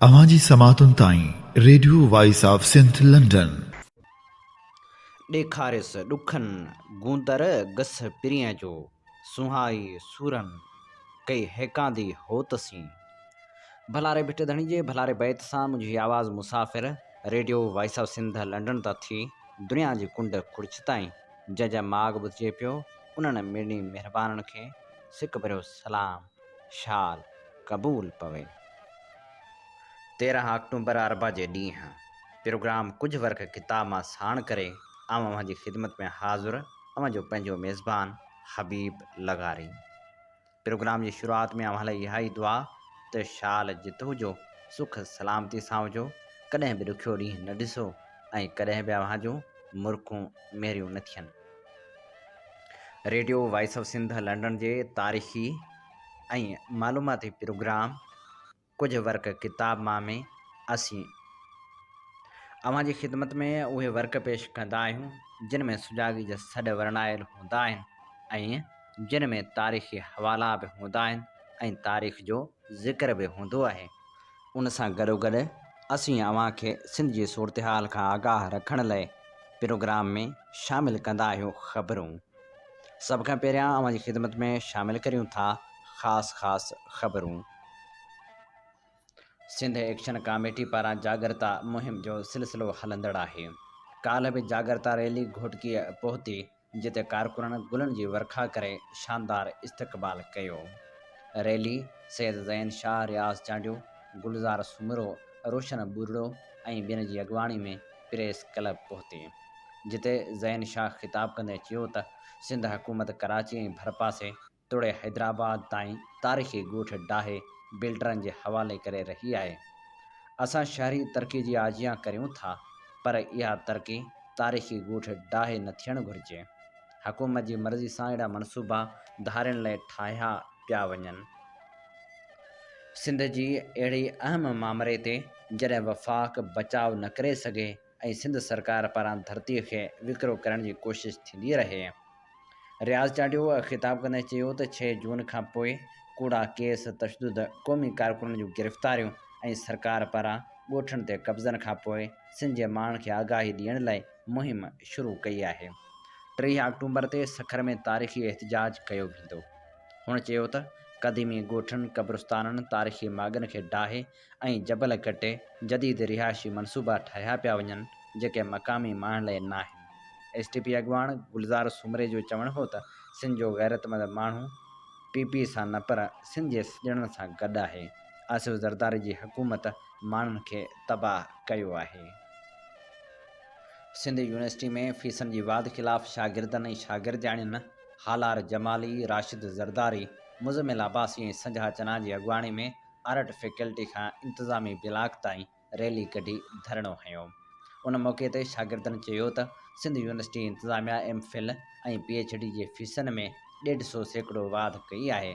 اوهان جي سماعتن تائين Radio Voice of Sindh London. ڏيکاريس ڏکن گوندر گس پرينء جو، سونهائي سورن ڪئي هيڪاندي هوت سين. ڀلا ري ڀٽ ڌڻي جي ڀلاري بيت سان منهنجي آواز مسافر Radio Voice of Sindh London تان ٿي دنيا جي ڪنڊ ڪڙڇ تائين جنهن جا ماڳ ٻڌجي پيو انهن مڙني مهربانن کي سڪ ڀريو سلام. شال قبول پوي. تيرنهن آڪٽومبر اربع جي ڏينهن پروگرام ڪجهه ورق ڪتاب مان ساڻ ڪري آئون اوهان جي خدمت ۾ حاضر اوهان جو پنهنجو ميزبان حبيب لغاري. پروگرام جي شروعات ۾ اوهان لاء اها ئي دعا ته شال جت هجو، سک سلامتي سان هجو، ڪڏهن به ڏکيو ڏينهن نه ڏسو ۽ ڪڏهن به اوهان جون مرڪون ميريون نه ٿين. Radio Voice of Sindh London جي تاريخي ۽ معلوماتي پروگرام ڪجهه ورق ڪتاب مان ۾ اسين اوهان جي خدمت ۾ اهي ورق پيش ڪندا آهيون جن ۾ سجاڳي جا سڏ ورنايل هوندا آهن ۽ جن ۾ تاريخي حوالا به هوندا آهن ۽ تاريخ جو ذڪر به هوندو آهي ان سان گڏوگڏ اسين اوهان کي سنڌ جي صورتحال کان آگاهه رکڻ لئه پروگرام ۾ شامل ڪندا آهيون خبرون سڀ کان پهريان اوهان جي خدمت ۾ شامل ڪريون ٿا خاص خاص خبرون. سنڌ ايڪشن ڪاميٽي پاران جاڳرتا مهم جو سلسلو هلندڙ آهي ڪالهه به جاڳرتا ريلي گهوٽڪيء پهتي جتي ڪارڪنن گلن جي ورکا ڪري شاندار استقبال ڪيو. ريلي سيد زين شاهه رياض چانڊيو، گلزار سومرو، روشن ٻورڙو ۽ ٻين جي اڳواڻي ۾ پريس ڪلب پهتي. جتي زين شاهه خطاب ڪندي چيو ته سنڌ حڪومت ڪراچي ۽ ڀرپاسي، توڙي حيدرآباد تائين تاريخي ڳوٺ ڊاهي بلڊرن جي حوالي ڪري رهي آهي. اسان شهري ترقي جي آجيان ڪريون ٿا پر اها ترقي تاريخي ڳوٺ ڊاهي نه ٿيڻ گهرجي. حڪومت جي مرضي سان اهڙا منصوبا ڌارين لئي ٺاهيا پيا وڃن. سنڌ جي اهڙي اهم مامري تي جڏهن وفاق بچاء نه ڪري سگهي ۽ سنڌ سرڪار پاران ڌرتي کي وڪرو ڪرڻ جي ڪوشش ٿيندي رهي. رياض چانڊيو خطاب ڪندي چيو ته ڇهه جون کان پوء ڪوڙا ڪيس، تشدد، قومي ڪارڪنن جون گرفتاريون ۽ سرڪار پاران ڳوٺن تي قبضن کان پوء سنڌ جي ماڻهن کي آگاهي ڏيڻ لاء مهم شروع ڪئي آهي. ٽيهه آڪٽومبر تي سکر ۾ تاريخي احتجاج ڪيو ويندو. هن چيو ته قديمي ڳوٺن، قبرستانن، تاريخي ماڳن کي ڊاهي، ۽ جبل ڪٽي جديد رهائشي منصوبا ٺاهيا پيا وڃن جيڪي مقامي ماڻهن لئي ناهن. ايس ٽي پي اڳواڻ گلزار سومري جو چوڻ هو ته سنڌ جو غيرتمند ماڻهو پي پي سان نه پر سنڌ جي سڄڻن سان گڏ آهي، آصف زرداري جي حڪومت ماڻهن کي تباهه ڪيو آهي. سنڌ يونيورسٽي ۾ فيسن جي واڌ خلاف شاگردن ۽ شاگردياڻين هالار جمالي، راشد زرداري، مزمل عباسي ۽ سنجها چنا جي اڳواڻي ۾ آرٽ فيڪلٽي کان انتظامي بلاڪ تائين ريلي ڪڍي ڌرڻو هنيو. ان موقعي تي شاگردن چيو ته سنڌ يونيورسٽي انتظاميا M Phil ۽ P H D جي فيسن ۾ ڏيڍ سئو سيڪڙو واڌ ڪئي آهي.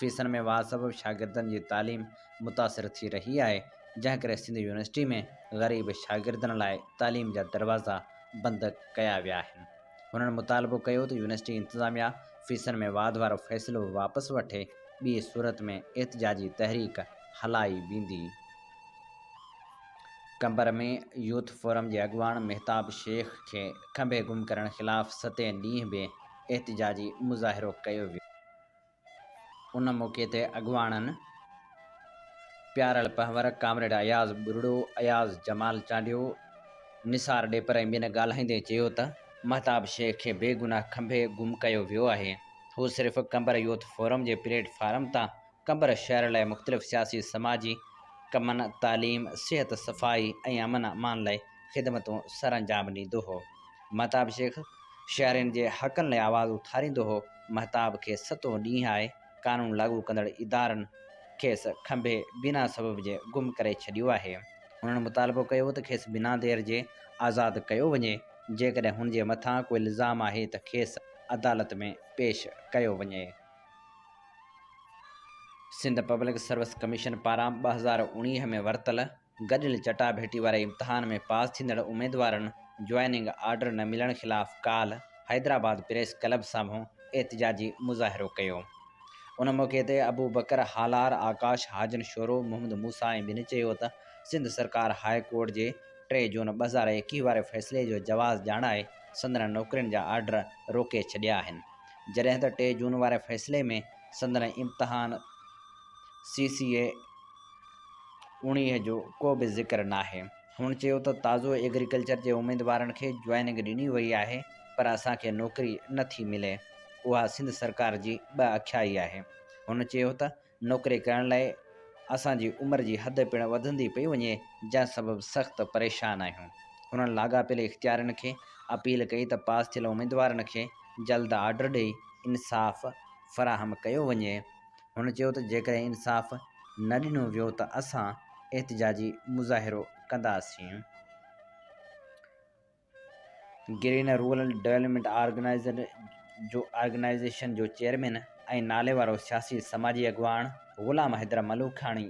فيسن ۾ واڌ سبب شاگردن جي تعليم متاثر ٿي رهي آهي، جنهن ڪري سنڌ يونيورسٽي ۾ غريب شاگردن لاء تعليم جا دروازا بند ڪيا ويا آهن. هنن مطالبو ڪيو ته يونيورسٽي انتظاميا فيسن ۾ واڌ وارو فيصلو واپس وٺي، ٻي صورت ۾ احتجاجي تحريڪ هلائي ويندي. قمبر ۾ يوٿ فورم جي اڳواڻ مهتاب شيخ کي کنڀي گم ڪرڻ خلاف ستين ڏينهن به احتجاجي مظاهرو ڪيو ويو. ان موقعي تي اڳواڻن پيارل پنهور، ڪامريڊ اياز ٻرڙو، اياز جمال چانڊيو، نثار ڏيپر ۽ ٻين ڳالهائيندي چيو ته مهتاب شيخ کي بي گناهه کنڀي گم ڪيو ويو آهي، هو صرف قمبر يوٿ فورم جي پليٽ فارم تان قمبر شهر لاء مختلف سياسي سماجي ڪمن، تعليم، صحت، صفائي ۽ امن امان لاء خدمتون سرانجام ڏيندو هو، مهتاب شيخ شهرين جي حقن لاء آواز اٿاريندو هو. مهتاب کي ستون ڏينهن آهي، قانون لاڳو ڪندڙ ادارن کيس کنڀي بنا سبب جي گم ڪري ڇڏيو آهي. هنن مطالبو ڪيو ته کيس بنا دير جي آزاد ڪيو وڃي، جيڪڏهن هن جي مٿان ڪو الزام آهي ته کيس عدالت ۾ پيش ڪيو وڃي. سنڌ پبلڪ سروس ڪميشن پاران ٻه هزار اڻويهه ۾ ورتل گڏيل چٽاڀيٽي واري امتحان ۾ پاس ٿيندڙ اميدوارن جوائننگ آرڊر نه ملڻ خلاف ڪالهه حيدرآباد پريس ڪلب سامهون احتجاجي مظاهرو ڪيو. ان موقعي تي ابوبڪر هالار، آڪاش هاجن شورو، محمد موسيٰ ۽ ٻين چيو ته سنڌ سرڪار هاء ڪورٽ جي ٽي جون ٻه هزار ايڪيهه واري فيصلي جو جواز ڄاڻائي سندن نوڪرين جا آرڊر روڪي ڇڏيا آهن جڏهن ته ٽي جون واري فيصلي ۾ سندن امتحان سي سي اي انهيء جو ڪو به ذڪر ناهي. هن چيو ته تازو ايگريڪلچر جي اميدوارن کي جوائننگ ڏني وئي آهي پر اسان کي نوڪري نه ٿي ملي، اها سنڌ سرڪار جي ٻه اکيائي آهي. هن چيو ته نوڪري ڪرڻ لاء اسان جي عمر جي حد پڻ وڌندي پئي وڃي جنهن سبب سخت پريشان آهيون. هنن لاڳاپيل اختيارين کي اپيل ڪئي ته پاس ٿيل اميدوارن کي جلد آرڊر ڏئي انصاف فراهم ڪيو وڃي. هن چيو ته جيڪڏهن انصاف نه ڏنو ويو ته اسان احتجاجي مظاهرو ڪنداسين. گرين رورل ڊولپمينٽ آرگنائيزر جو آرگنائيزيشن جو چيئرمين ۽ ناليوارو سياسي سماجي اڳواڻ غلام حيدر ملوکاڻي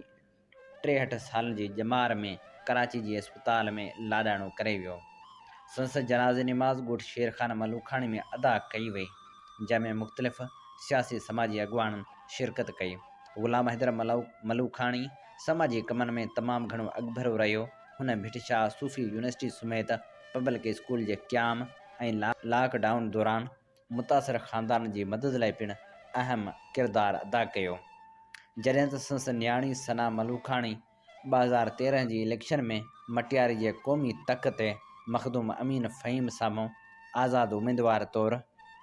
ٽيهٺ سالن جي ڄمار ۾ ڪراچي جي اسپتال ۾ لاڏاڻو ڪري ويو. سندس جنازي نماز ڳوٺ شيرخان ملوکاڻي ۾ ادا ڪئي وئي، جنهن ۾ مختلف سياسي سماجي اڳواڻن شرڪت ڪئي. غلام حيدر ملوکاڻي سماجي ڪمن ۾ تمام گهڻو اڳڀرو رهيو. هن ڀٽ شاهه صوفي يونيورسٽي سميت پبلڪ اسڪول جي قيام ۽ لاڪ ڊائون دوران متاثر خاندان جي مدد لاء پڻ اهم ڪردار ادا ڪيو جڏهن ته سندس نياڻي ثنا ملوڪاڻي ٻه هزار تيرنهن جي اليڪشن ۾ مٽياري جي قومي تڪ تي مخدوم امين فهيم سامهون آزاد اميدوار طور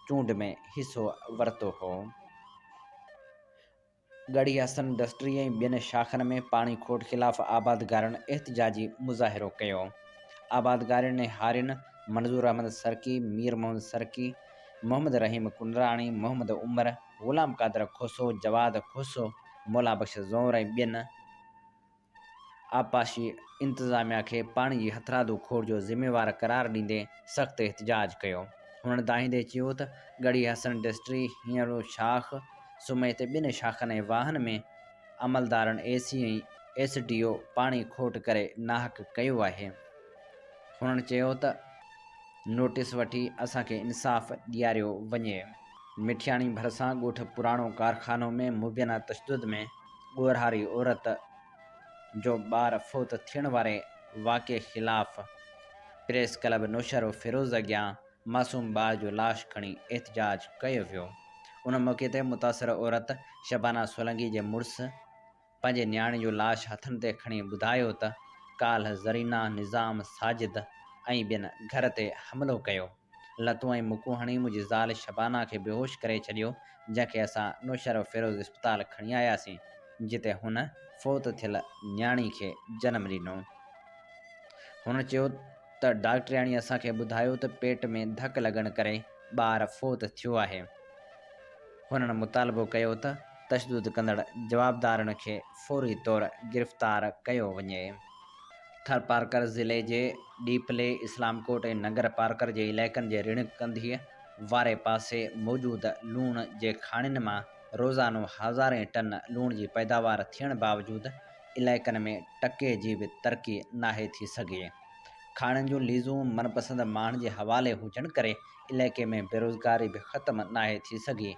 چونڊ ۾ حصو ورتو هو. ڳڙهي حسن انڊسٽري ۽ ٻين شاخن ۾ پاڻي کوٽ خلاف آبادگارن احتجاجي مظاهرو ڪيو. آبادگارن ۽ هارين منظور احمد سرڪي، مير محمد سرڪي، محمد رحيم ڪنڊراڻي، محمد عمر، غلام قادر کوسو، جواد کوسو، مولا بخش زئور ۽ ٻين، آبپاشي انتظاميا کي پاڻي جي هٿرادو کوڙ جو ذميوار قرار ڏيندي سخت احتجاج ڪيو. هن ڌاهيندي چيو ته ڳڙهي حسن ڊسٽري هينئڙو شاخ سميت ٻن شاخن ۽ واهن ۾ عملدارن A C ۽ S D O پاڻي کوٽ ڪري ناحق ڪيو آهي. هن چيو ته نوٽيس وٺي اسان کي انصاف ڏياريو وڃي. مٺياڻي ڀرسان ڳوٺ پراڻو ڪارخانو ۾ مبينا تشدد ۾ ڳورهاري عورت جو ٻار فوت ٿيڻ واري واقعي خلاف پريس ڪلب نوشهروفيروز اڳيان معصوم ٻار جو لاش کڻي احتجاج ڪيو ويو ان موقعي تي متاثر عورت شبانه سولنگي جي مڙس پنهنجي نياڻي جو لاش هٿن تي کڻي ٻڌايو ته ڪالهه زرينه نظام ساجد ۽ ٻين گهر تي حملو ڪيو لتون ۽ مڪون هڻي منهنجي زال شبانه کي بيهوش ڪري ڇڏيو، جنهن کي اسان نوشهروه فيروز اسپتال کڻي آياسين، جتي هن فوت ٿيل نياڻي کي جنم ڏنو. هن چيو ته ڊاڪٽرياڻي اسان کي ٻڌايو ته پيٽ ۾ ڌڪ لڳڻ ڪري ٻار فوت ٿيو آهي. هنن مطالبو ڪيو ته تشدد ڪندڙ جوابدارن کي فوري طور گرفتار ڪيو وڃي. ٿرپارڪر ضلعي جي ڏيپلي، اسلام ڪوٽ ۽ ننگر پارڪر جي علائقن جي رڻ ڪنڌيء واري پاسي موجود لوڻ جي کاڻين مان روزانو هزارين ٽن لوڻ جي پيداوار ٿيڻ باوجود علائقن ۾ ٽڪي جي به ترقي ناهي ٿي سگهي. کاڻين جون ليزون من پسند ماڻهن جي حوالي هجڻ ڪري علائقي ۾ بيروزگاري به ختم ناهي ٿي سگهي.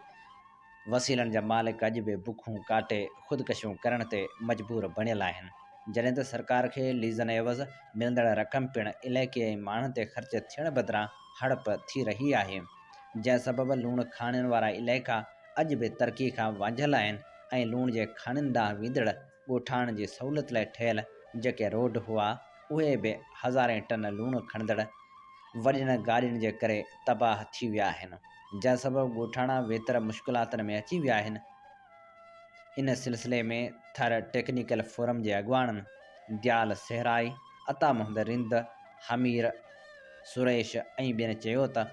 وسيلن جا مالڪ اڄ به بکون ڪاٽي خودڪشيون ڪرڻ تي مجبور بڻيل آهن، جڏهن ته سرڪار کي ليزن عيوض ملندڙ رقم پڻ علائقي ۽ ماڻهن تي خرچ ٿيڻ بدران هڙپ ٿي رهي آهي، جنهن سبب لوڻ کاڻين وارا علائقا اڄ به ترقي کان وانجهيل آهن ۽ لوڻ جي کاڻين ڏانهن ويندڙ ڳوٺاڻن جي سهولت لاء ٺهيل جيڪي روڊ هئا، اهي به هزارين ٽن لوڻ کڻندڙ وڏين گاڏين جي ڪري تباهه ٿي ويا آهن، جنهن سبب ڳوٺاڻا ويتر مشڪلاتن ۾ اچي ويا آهن. ان سلسلي ۾ ٿر ٽيڪنيڪل فورم جي اڳواڻن ديال سهرائي، عطا محمد رند، حمير سريش ۽ ٻين چيو ته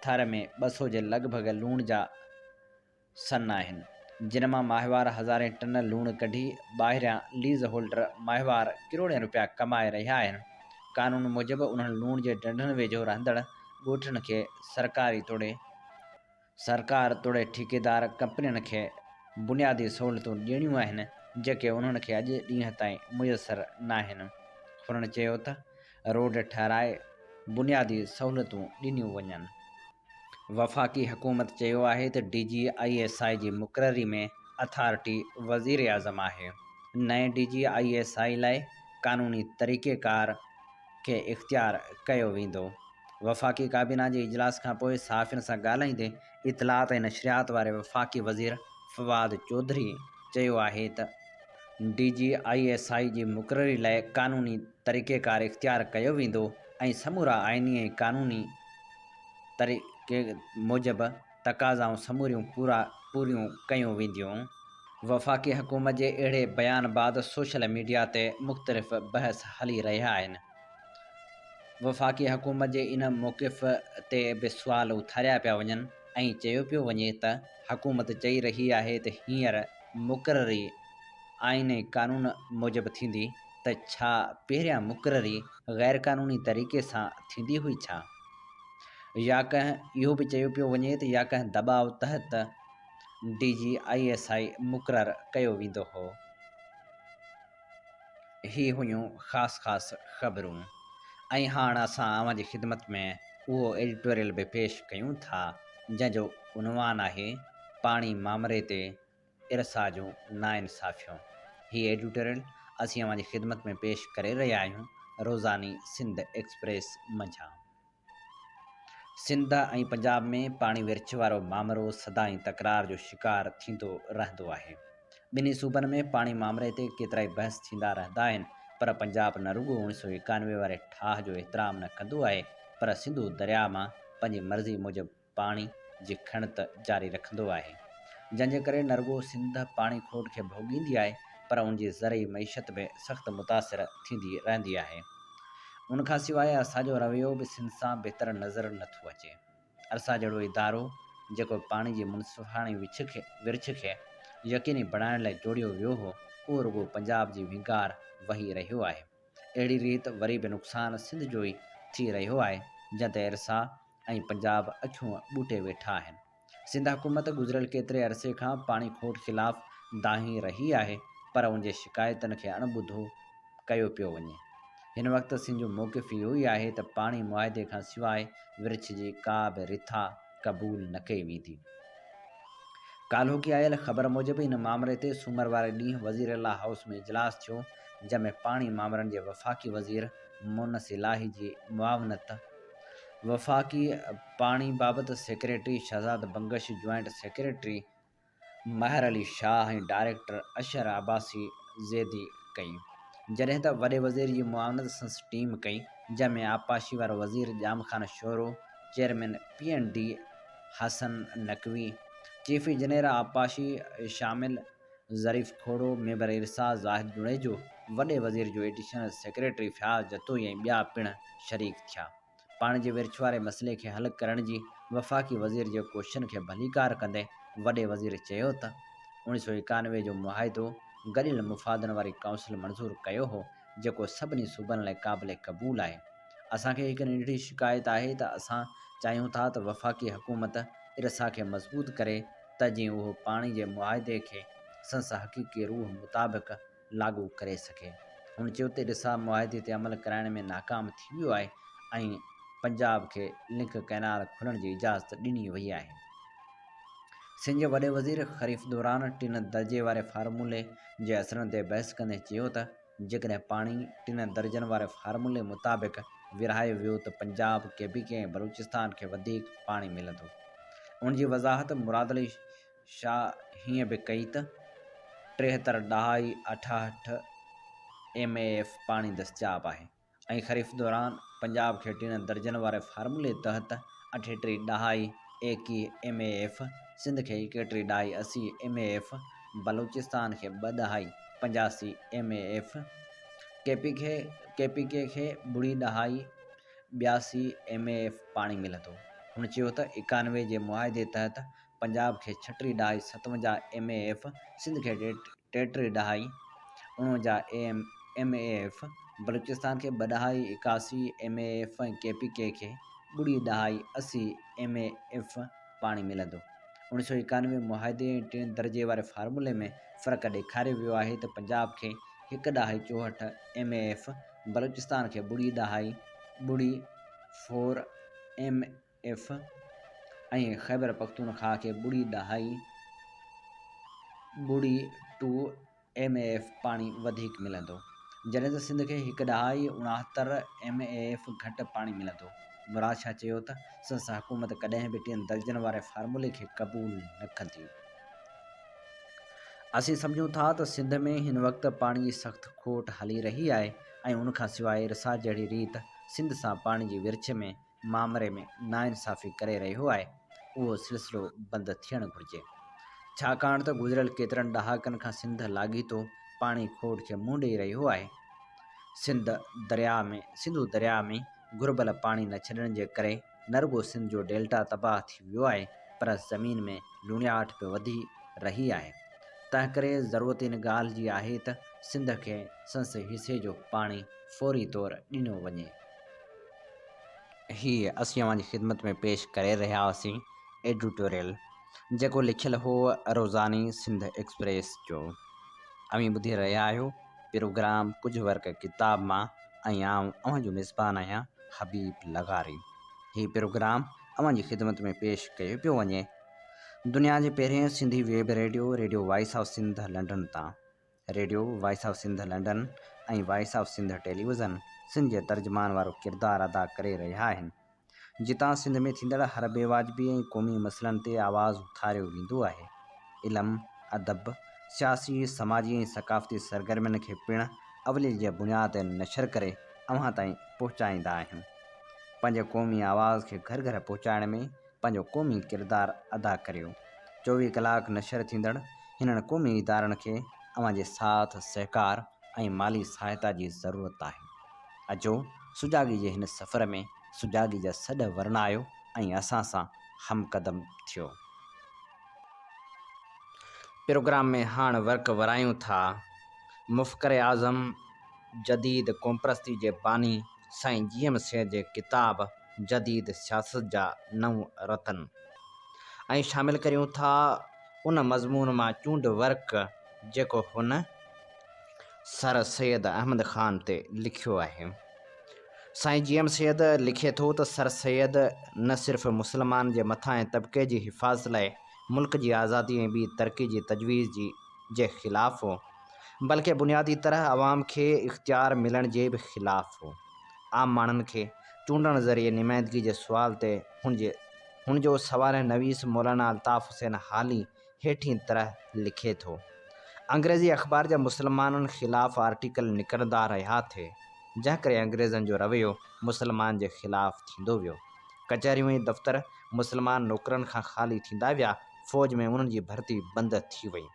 ٿر ۾ ٻه سو جي لڳ ڀڳ لوڻ جا، سن آهن، جن مان ماهوار هزارين ٽن لوڻ ڪڍي ٻاهريان ليز هولڊر ماهوار ڪروڙين رپيا ڪمائي رهيا آهن، قانون موجب انهن لوڻ جي ڍنڍن ويجهو رهندڙ ڳوٺڙن کي سرڪاري توڙي سرڪار توڙي ٺيڪيدار ڪمپنين کي بنيادي سهولتون ڏيڻيون آهن، جيڪي انهن کي اڄ ڏينهن تائين ميسر ناهن، هنن چيو ته روڊ ٺهرائي بنيادي سهولتون ڏنيون وڃن. وفاقي حڪومت چيو آهي ته D G I S I جي مقرري ۾ اٿارٽي وزيراعظم آهي، نئين D G I S I لاء قانوني طريقيڪار کي اختيار ڪيو ويندو. وفاقي ڪابينا جي اجلاس کانپوء صحافين سان ڳالهائيندي اطلاعات ۽ نشريات واري وفاقي وزير فواد چوڌري چيو آهي ته D G I S I جي مقرري لاء قانوني طريقيڪار اختيار ڪيو ويندو ۽ سمورا آئيني ۽ قانوني طريقي موجب تقاضائون سموريون پوريون ڪيون وينديون. وفاقي حڪومت جي اهڙي بيان بعد سوشل ميڊيا تي مختلف بحث هلي رهيا آهن. وفاقي حڪومت جي ان موقف تي به سوال اٿاريا پيا وڃن ۽ چيو پيو وڃي ته حڪومت چئي رهي آهي ته هينئر مقرري آئين ۽ قانون موجب ٿيندي، ته ڇا پهريان مقرري غيرقانوني طريقي سان ٿيندي هئي ڇا؟ يا ڪنهن اهو به چيو پيو وڃي ته يا ڪنهن دٻاء تحت D G I S I مقرر ڪيو ويندو هو. هي هيون خاص خاص خبرون ۽ هاڻ اسان اوهان جي خدمت ۾ اهو ايڊيٽوريل به پيش ڪيون ٿا جنهن جو عنوان آهي پاڻي مامري تي ارسا جون ناانصافيون هي ايڊيوٽريل اسين اوهان جي خدمت ۾ پيش ڪري رهيا آهيون روزاني سنڌ ايڪسپريس منجهان سنڌ ۽ پنجاب ۾ پاڻي ورڇ وارو مامرو سدائين تڪرار جو شڪار ٿيندو رهندو آهي ٻنهي صوبن ۾ پاڻي مامري تي ڪيترائي بحث ٿيندا رهندا آهن پر پنجاب نه رڳو اوڻي سو ايڪانوي واري ٺاهه جو احترام نه ڪندو آهي پر سنڌو درياء مان پنهنجي مرضي موجب پاڻي جي کڻت جاري رکندو آهي، جنهن جي ڪري نه رڳو سنڌ پاڻي کوٽ کي ڀوڳيندي آهي پر ان جي زرعي معيشت به سخت متاثر ٿيندي رهندي آهي. ان کان سواء ارسا جو رويو به سنڌ سان بهتر نظر نه ٿو اچي. ارسا جهڙو ادارو جيڪو پاڻي جي منصفاڻي ورڇ کي يقيني بڻائڻ لاء جوڙيو ويو هو، اهو رڳو پنجاب جي وهنگار وهي رهيو آهي. اهڙي ريت وري به نقصان سنڌ جو ئي ٿي رهيو آهي، جنهن تي ارسا ۽ پنجاب اکيون ٻوٽي ويٺا آهن سنڌ حڪومت گذريل ڪيتري عرصي کان پاڻي کوٽ خلاف دانهين رهي آهي پر ان جي شڪايتن کي اڻ ٻڌو ڪيو پيو وڃي هن وقت سنڌ جو موقف اهو ئي آهي ته پاڻي معاهدي کان سواء ورڇ جي ڪا به رٿا قبول نه ڪئي ويندي ڪالهوڪي آيل خبر موجب ان مامري تي سومر واري ڏينهن وزير لا هائوس ۾ اجلاس ٿيو جنهن ۾ پاڻي مامرن جي وفاقي وزير مونس الاهي جي معاونت وفاقي پاڻي بابت secretary Shahzad Bangash, joint secretary مهر علي شاهه ۽ ڊائريڪٽر اشهر عباسي زيدي ڪئي، جڏهن ته وڏي وزير جي معاونت سنس ٽيم ڪئي، جنهن ۾ آبپاشي وارو وزير Jam Khan Shoro, chairman P and D Hassan Naqvi, chief engineer آبپاشي شامل، ظريف کهڙو، ميمبر ارسا زاهد جوڻيجو، وڏي وزير جو ايڊيشنل سيڪريٽري فياض جتوئي ۽ ٻيا پڻ شريڪ ٿيا. پاڻي جي ورڇ واري مسئلي کي حل ڪرڻ جي وفاقي وزير جي ڪوششن کي ڀليڪار ڪندي وڏي وزير چيو ته اوڻي سؤ ايڪانوي جو معاهدو گڏيل مفادن واري ڪائونسل منظور ڪيو هو جيڪو سڀني صوبن لاء قابل قبول آهي اسان کي هڪ ننڍڙي شڪايت آهي ته اسان چاهيون ٿا ته وفاقي حڪومت ارسا کي مضبوط ڪري ته جيئن اهو پاڻي جي معاهدي کي سنس حقيقي روح مطابق لاڳو ڪري سگهي. هن چيو ته رسا معاهدي تي عمل ڪرائڻ ۾ ناڪام ٿي ويو آهي ۽ پنجاب کي لنڪ ڪئنال کولڻ جي اجازت ڏني وئي آهي. سنڌ جي وڏي وزير خريف دوران ٽن درجي واري فارمولي جي اثرن تي بحث ڪندي چيو ته، جيڪڏهن پاڻي ٽن درجن واري فارمولي مطابق ورهايو ويو ته Punjab, K P K ۽ Balochistan کي وڌيڪ پاڻي ملندو. ان جي وضاحت مراد علي شاهه هيئن به ڪئي ته ٽيهتر ڏهائي اٺاهٺ ايم اي ايف پاڻي دستياب آهي. ۽ خريف دوران پنجاب کي ٽين درجن واري فارمولي تحت اٺيٽيهه ڏهائي ايڪيهه ايم اي ايف، سنڌ کي ايڪيٽيهه ڏهائي اسي ايم اي ايف، بلوچستان کي ٻه ڏهائي پنجاسي M A F, K P کي ڪي پي ڪي کي ٻڙي ڏهائي ٻياسي ايم اي ايف پاڻي ملندو. هن چيو ته اڪانوي جي معاهدي تحت پنجاب کي ڇٽري ڏهائي ستونجاهه ايم اي ايف، سنڌ کي ٽيٽري ڏهائي اڻونجاهه ايم اي ايف، بلوچستان کي ٻه ڏهائي ايڪاسي M A F ۽ K P K کي ٻڙي ڏهائي اسي ايم اي ايف پاڻي ملندو. اوڻ سؤ ايڪانوي معاهدي ۽ ٽئين درجي واري فارمولي ۾ فرق ڏيکاريو ويو آهي ته پنجاب کي هڪ ڏهائي چوهٺ ايم اي ايف، بلوچستان کي ٻڙي ڏهائي ٻڙي four M A F, F ۽ Khyber Pakhtunkhwa کي ٻڙي ڏهائي ٻڙي ٽو ايم اي ايف پاڻي وڌيڪ ملندو جڏهن ته سنڌ کي هڪ ڏهائي اڻهتر ايم اي ايف گهٽ پاڻي ملندو مراد شاهه چيو ته سنسا حڪومت ڪڏهن به ٽين درجن واري فارمولي کي قبول نه ڪندي اسين سمجهون ٿا ته سنڌ ۾ هن وقت پاڻي جي سخت کوٽ هلي رهي آهي ۽ ان کان سواء رسا جهڙي ريت سنڌ سان پاڻي جي ورڇ ۾ معامري ۾ ناانصافي ڪري رهيو آهي اهو سلسلو بند ٿيڻ گهرجي ڇاڪاڻ ته گذريل ڪيترن ڏهاڪن کان سنڌ لاڳيتو پاڻي کوٽ کي منهن ڏئي رهيو آهي سنڌ درياء ۾ سنڌو درياء ۾ گهربل پاڻي نه ڇڏڻ جي ڪري نه رڳو سنڌ جو ڊيلٽا تباهه ٿي ويو آهي پر زمين ۾ لوڻياٺ به وڌي رهي آهي تنهنڪري ضرورت ان ڳالهه جي آهي ته سنڌ کي سنس حصي جو پاڻي فوري طور ڏنو وڃي. هي اسين اوهان جي خدمت ۾ پيش ڪري رهيا هئاسين ايڊيٽوريل جيڪو لکيل هو روزاني سنڌ ايڪسپريس جو اوهين ٻڌي رهيا آهيو پروگرام ڪجهه ورق ڪتاب مان ۽ آئون اوهان جو ميزبان آهيان حبيب لغاري هي پروگرام اوهان جي خدمت ۾ پيش ڪيو پيو وڃي دنيا جي پهرين Sindhi web radio Radio Voice of Sindh London تان Radio, Voice of Sindh London ۽ Voice of Sindh television Sindh جي ترجمان وارو ڪردار ادا ڪري رهيا آهن، جتان سنڌ ۾ ٿيندڙ هر بي واجبي ۽ قومي مسئلن تي آواز اٿاريو ويندو آهي. علم، ادب، سياسي، سماجي ۽ ثقافتي سرگرمين کي پڻ اوليل جي بنياد تي نشر ڪري اوهان تائين پهچائيندا آهيون. پنهنجي قومي آواز کي گهر گهر پهچائڻ ۾ پنهنجو قومي ڪردار ادا ڪريو. چوويهه ڪلاڪ نشر ٿيندڙ هنن قومي ادارن کي اوهان جي ساٿ سهڪار ۽ مالي سهائتا جي ضرورت آهي. اچو سجاڳي جي هن سفر ۾ سجاڳي جا سڏ ورنايو ۽ اسان سان همقدم ٿيو. پروگرام ۾ هاڻ ورق ورايون ٿا. مفڪر اعظم جديد قومپرستي جي باني سائين جي ايم سيد جي ڪتاب جديد سياست جا نو رتن ۽ شامل ڪريون ٿا ان مضمون مان چونڊ ورق جيڪو هن سر سيد احمد خان تي لکيو آهي. سائين جي ايم سيد لکي ٿو ته سر سيد نه صرف مسلمان جي مٿاهين طبقي جي حفاظت لاء ملڪ جي آزادي ۽ ٻي ترقي جي تجويز جي جي خلاف هو، بلڪه بنيادي طرح عوام کي اختيار ملڻ جي به خلاف هو. عام ماڻهن کي چونڊڻ ذريعي نمائندگي جي سوال تي هن جو سوانح نويس مولانا الطاف حسين هالي هيٺين طرح لکي ٿو، انگريزي اخبار جا مسلمانن خلاف آرٽيڪل نڪرندا رهيا ٿي، جنهن ڪري انگريزن جو رويو مسلمانن جي خلاف ٿيندو ويو. ڪچهريون ۽ دفتر مسلمان نوڪرن کان خالي ٿيندا ويا. فوج ۾ انهن جي ڀرتي بند ٿي وئي.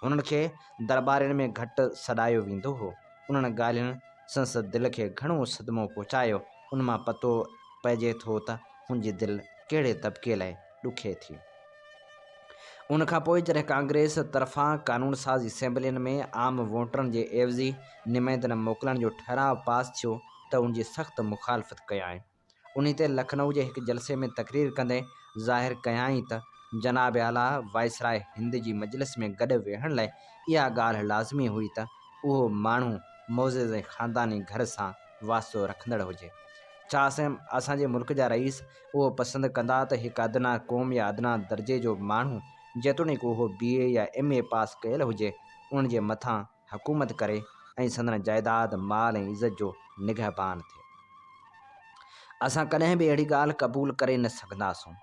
انهن کي درٻارين ۾ گهٽ سڏايو ويندو هو. انهن ڳالهين سندس دل کي گهڻو صدمو پهچايو. ان مان پتو پئجي ٿو ته هن جي دل ڪهڙي طبقي لاء ڏکي ٿي. ان کان پوء جڏهن ڪانگريس طرفان قانون ساز اسيمبلين ۾ عام ووٽرن جي عيوضي نمائندن موڪلڻ جو ٺهراء پاس ٿيو ته ان جي سخت مخالفت ڪيائين. انهي تي لکنؤ جي هڪ جلسي ۾ تقرير ڪندي ظاهر ڪيائين ته جناب اعليٰ وائسراء هند جي مجلس ۾ گڏ ويهڻ لاء اها ڳالهه لازمي هئي ته اهو ماڻهو معزز ۽ خانداني گهر سان واسطو رکندڙ هجي. ڇا اسان جي ملڪ جا رئيس اهو پسند ڪندا ته هڪ ادنيٰ قوم يا ادنيٰ درجي جو ماڻهو جيتوڻيڪ اهو بي اي يا ايم اي پاس ڪيل هجي ان جي مٿان حڪومت ڪري ۽ سندن جائيداد، مال ۽ عزت جو نگهبان ٿئي. اسان ڪڏهن به اهڙي ڳالهه قبول ڪري نه سگهنداسون.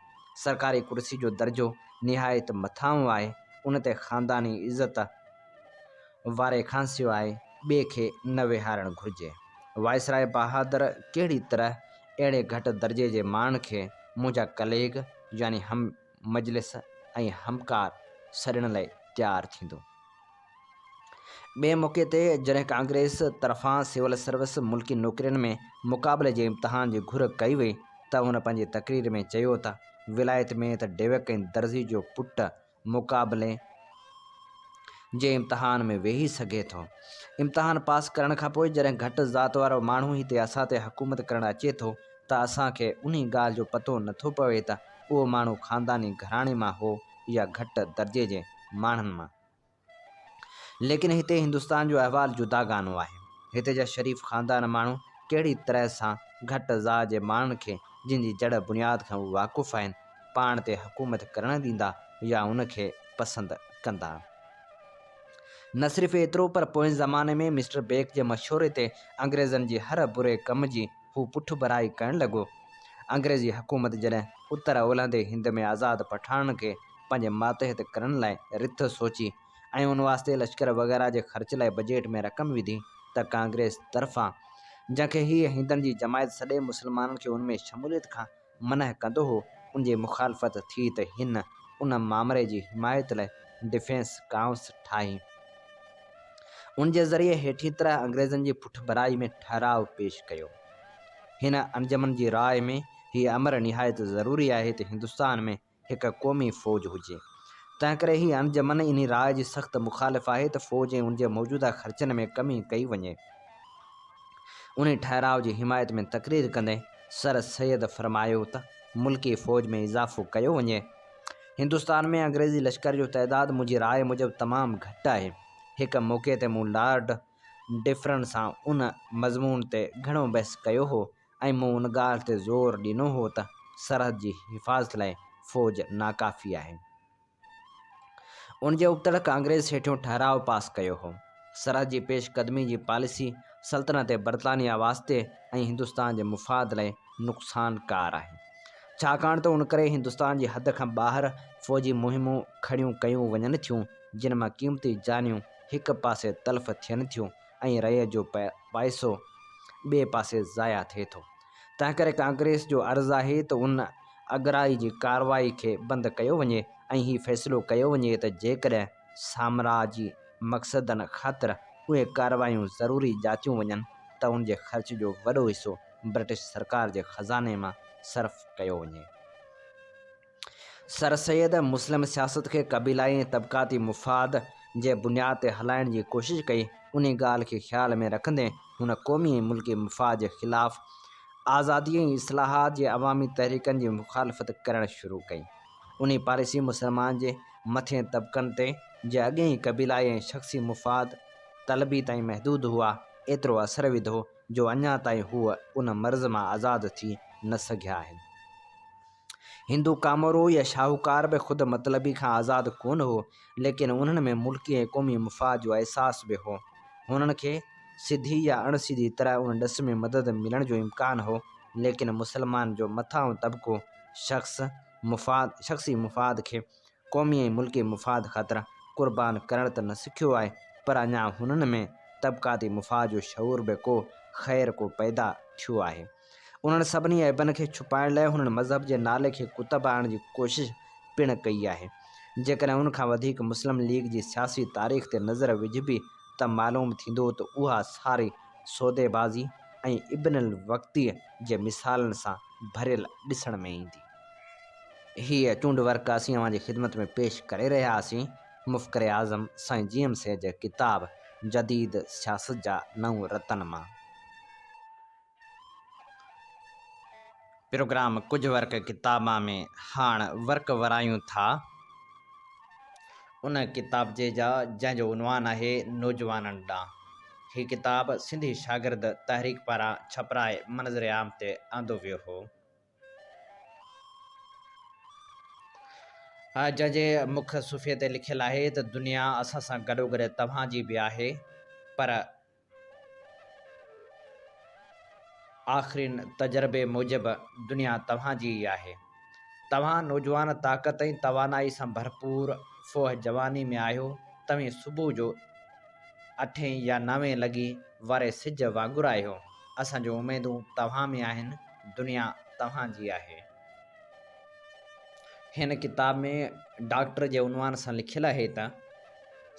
سرڪاري ڪرسي جو درجو نهايت مٿانهون آهي، ان تي خانداني عزت واري کانسواء ٻئي کي نه ويهارڻ گهرجي. وائسراء بهادر ڪهڙي طرح اهڙي گهٽ درجي جي ماڻهن کي منهنجا ڪليگ يعني هم مجلس ۽ همڪار سڏڻ لاء تيار ٿيندو. ٻئي موقعي تي جڏهن ڪانگريس طرفان سول سروس ملڪي نوڪرين ۾ مقابلي جي امتحان جي گهر ڪئي وئي ته هن پنهنجي تقرير ۾ چيو ته ولايت ۾ ته ڊيوڪ ۽ درزي جو پٽ مقابلي جي امتحان ۾ ويهي سگهي ٿو. امتحان پاس ڪرڻ کانپوء جڏهن گهٽ ذات وارو ماڻهو هتي اسان تي حڪومت ڪرڻ اچي ٿو ته اسان کي انهي ڳالهه جو پتو نه ٿو پوي ته اهو ماڻهو خانداني گهراڻي مان هو يا گهٽ درجي جي ماڻهن مان. ليڪن هتي هندستان جو احوال جداگانو آهي. هتي جا شريف خاندان ماڻهو ڪهڙي طرح سان گهٽ ذا جي ماڻهن کي جن جي جڙ بنياد کان هو واقف آهن، پاڻ تي حڪومت ڪرڻ ڏيندا يا ان کي پسند ڪندا. نه صرف ايترو پر پوئين زماني ۾ مسٽر بيڪ جي مشوري تي انگريزن جي هر بري ڪم جي هو پٺڀرائي ڪرڻ لڳو. انگريزي حڪومت جڏهن اتر ۽ اولهندي هند ۾ آزاد پٺاڻن کي پنهنجي ماتحت ڪرڻ لاء رٿ سوچي ۽ ان واسطي لشڪر وغيره جي خرچ لاء بجيٽ ۾ رقم وڌي ته ڪانگريس طرفان جنهن کي هيء هندن جي جماعت سڏي مسلمانن کي ان ۾ شموليت کان منع ڪندو هو ان جي مخالفت ٿي ته هن ان مامري جي حمايت لاء ڊفينس ڪائونس ٺاهي ان جي ذريعي هيٺين طرح انگريزن جي پٺڀرائي ۾ ٺهراء پيش ڪيو. هن انجمن جي راء ۾ هي امر نهايت ضروري آهي ته هندستان ۾ هڪ قومي فوج هجي. تنهنڪري هي انجمن انهي راء جي سخت مخالف آهي ته فوج ۽ ان جي موجوده خرچن ۾ ڪمي ڪئي وڃي. انهي ٺهراء جي حمايت ۾ تقرير ڪندي سر سيد فرمايو ته ملڪي فوج ۾ اضافو ڪيو وڃي. هندستان ۾ انگريزي لشڪر جو تعداد منهنجي راء موجب تمام گهٽ آهي. هڪ موقعي تي مون لارڊ ڊفرن سان ان مضمون تي گهڻو بحث ڪيو هو. ۽ مون ان ڳالهه تي زور ڏنو هو ته سرحد جي حفاظت لاء فوج ناڪافي آهي. ان جي ابتڙ ڪانگريس هيٺيون ٺهراء پاس ڪيو هو. سرحد جي پيش قدمي جي پاليسي سلطنت برطانيا واسطي ۽ هندستان جي مفاد لاء نقصان ڪار آهي. ڇاڪاڻ ته ان ڪري هندستان جي حد کان ٻاهر فوجي مهمون کڙيون ڪيون وڃن ٿيون، جن مان قيمتي جانيون هڪ پاسي تلف ٿين ٿيون ۽ ريء جو پائسو ٻئي پاسي ضايع ٿئي ٿو، تنهنڪري ڪانگريس جو عرض آهي ته ان اڳرائي جي ڪارروائي کي بند ڪيو وڃي ۽ هي فيصلو ڪيو وڃي ته جيڪڏهن سامراجي مقصدن خاطر اهي ڪارروايون ضروري ڄاتيون وڃن ته ان جي خرچ جو وڏو حصو برٽش سرڪار جي خزاني مان صرف ڪيو وڃي. سر سيد مسلم سياست کي قبيلائي ۽ طبقاتي مفاد جي بنياد تي هلائڻ جي ڪوشش ڪئي، انهي ڳالهه کي خيال ۾ رکندي هن قومي ۽ ملڪي مفاد جي خلاف آزادي ۽ اصلاحات جي عوامي تحريڪن جي مخالفت ڪرڻ شروع ڪئي. انهي پاليسي مسلمان جي مٿين طبقن تي، جي اڳي ئي قبيلائي ۽ شخصي مفاد طلبي تائين محدود هئا، ايترو اثر وڌو جو اڃا تائين هو ان مرض مان آزاد ٿي نه سگهيا آهن. هندو ڪامورو يا شاهوڪار به خود مطلبي کان آزاد ڪونه هو، ليڪن انهن ۾ ملڪي ۽ قومي مفاد جو احساس به هو. هنن کي سڌي يا اڻ سڌي طرح ان ڏس ۾ مدد ملڻ جو امڪان هو، ليڪن مسلمان جو مٿانهون طبقو شخص مفاد شخصي مفاد کي قومي ۽ ملڪي مفاد خاطر قربان ڪرڻ ته نه سکيو آهي پر اڃا هنن ۾ طبقاتي مفاد جو شعور به ڪو خير ڪو پيدا ٿيو آهي. انهن سڀني عيبن کي ڇپائڻ لاء هنن مذهب جي نالي کي ڪتب آڻڻ جي ڪوشش پڻ ڪئي آهي. جيڪڏهن ان کان وڌيڪ مسلم ليگ جي سياسي تاريخ تي نظر وجهبي ته معلوم ٿيندو ته اها ساري سوديبازي ۽ ابن الوقتيء جي مثالن سان ڀريل ڏسڻ ۾ ايندي. هيء چونڊ ورق اسين اوهان جي خدمت ۾ پيش ڪري رهيا آهسين. مفڪر اعظم سائين جي ايم سيد جي ڪتاب جديد سياست جا نو رتن مان پروگرام ڪجهه ورق ڪتابان ۾ هاڻ ورق ورايون ٿا. ان ڪتابچي جا جنهن جو عنوان آهي نوجوانن ڏانهن. هي ڪتاب سنڌي شاگرد تحريڪ پاران ڇپرائي منظر عام تي آندو ويو هو. جنهن جي مک صفحي تي لکيل آهي ته دنيا اسان سان گڏوگڏ توهان جي به آهي پر آخرين تجربي موجب دنيا توهان جي ئي آهي. توهان نوجوان طاقت ۽ توانائي سان ڀرپور فوهه جواني ۾ آهيو. توهين صبح جو اٺين يا نوين لڳي واري سج وانگر آهيو، اسان جون اميدون توهان ۾ آهن، دنيا توهان جي آهي. هن ڪتاب ۾ ڊاڪٽر جي عنوان سان لکيل آهي ته،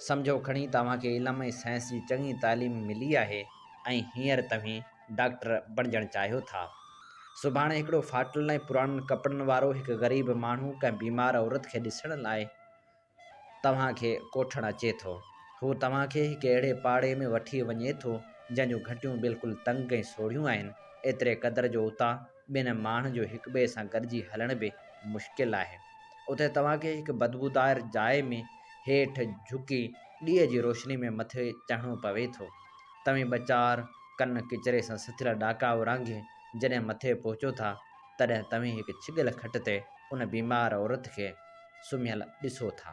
سمجهو کڻي توهان کي علم ۽ سائنس جي چڱي تعليم ملي آهي ۽ هينئر توهين ڊاڪٽر بڻجڻ چاهيو ٿا. سڀاڻي هڪڙو ڦاٽل ۽ پراڻن ڪپڙن وارو هڪ غريب ماڻهو ڪنهن بيمار عورت کي ڏسڻ لاء، توهان کي ڪوٺڻ اچي ٿو. هو توهان کي هڪ اهڙي پاڙي ۾ وٺي وڃي ٿو، جنهن جون گهٽيون بلڪل تنگ ۽ سوڙهيون آهن، ايتري قدر جو اتان ٻن ماڻهن جو هڪٻئي سان گڏجي هلڻ به مشڪل آهي. اتي توهان کي هڪ بدبودار جاء ۾ هيٺ جهڪي ڏيء جي روشني ۾ مٿي چڙهڻو پوي ٿو. توهين ٻه چار ڪن ڪچري سان سٿيل ڏاڪا اورانگهي جڏهن مٿي پهچو ٿا، تڏهن توهين هڪ ڇڳيل کٽ تي ان بيمار عورت کي سمهيل ڏسو ٿا.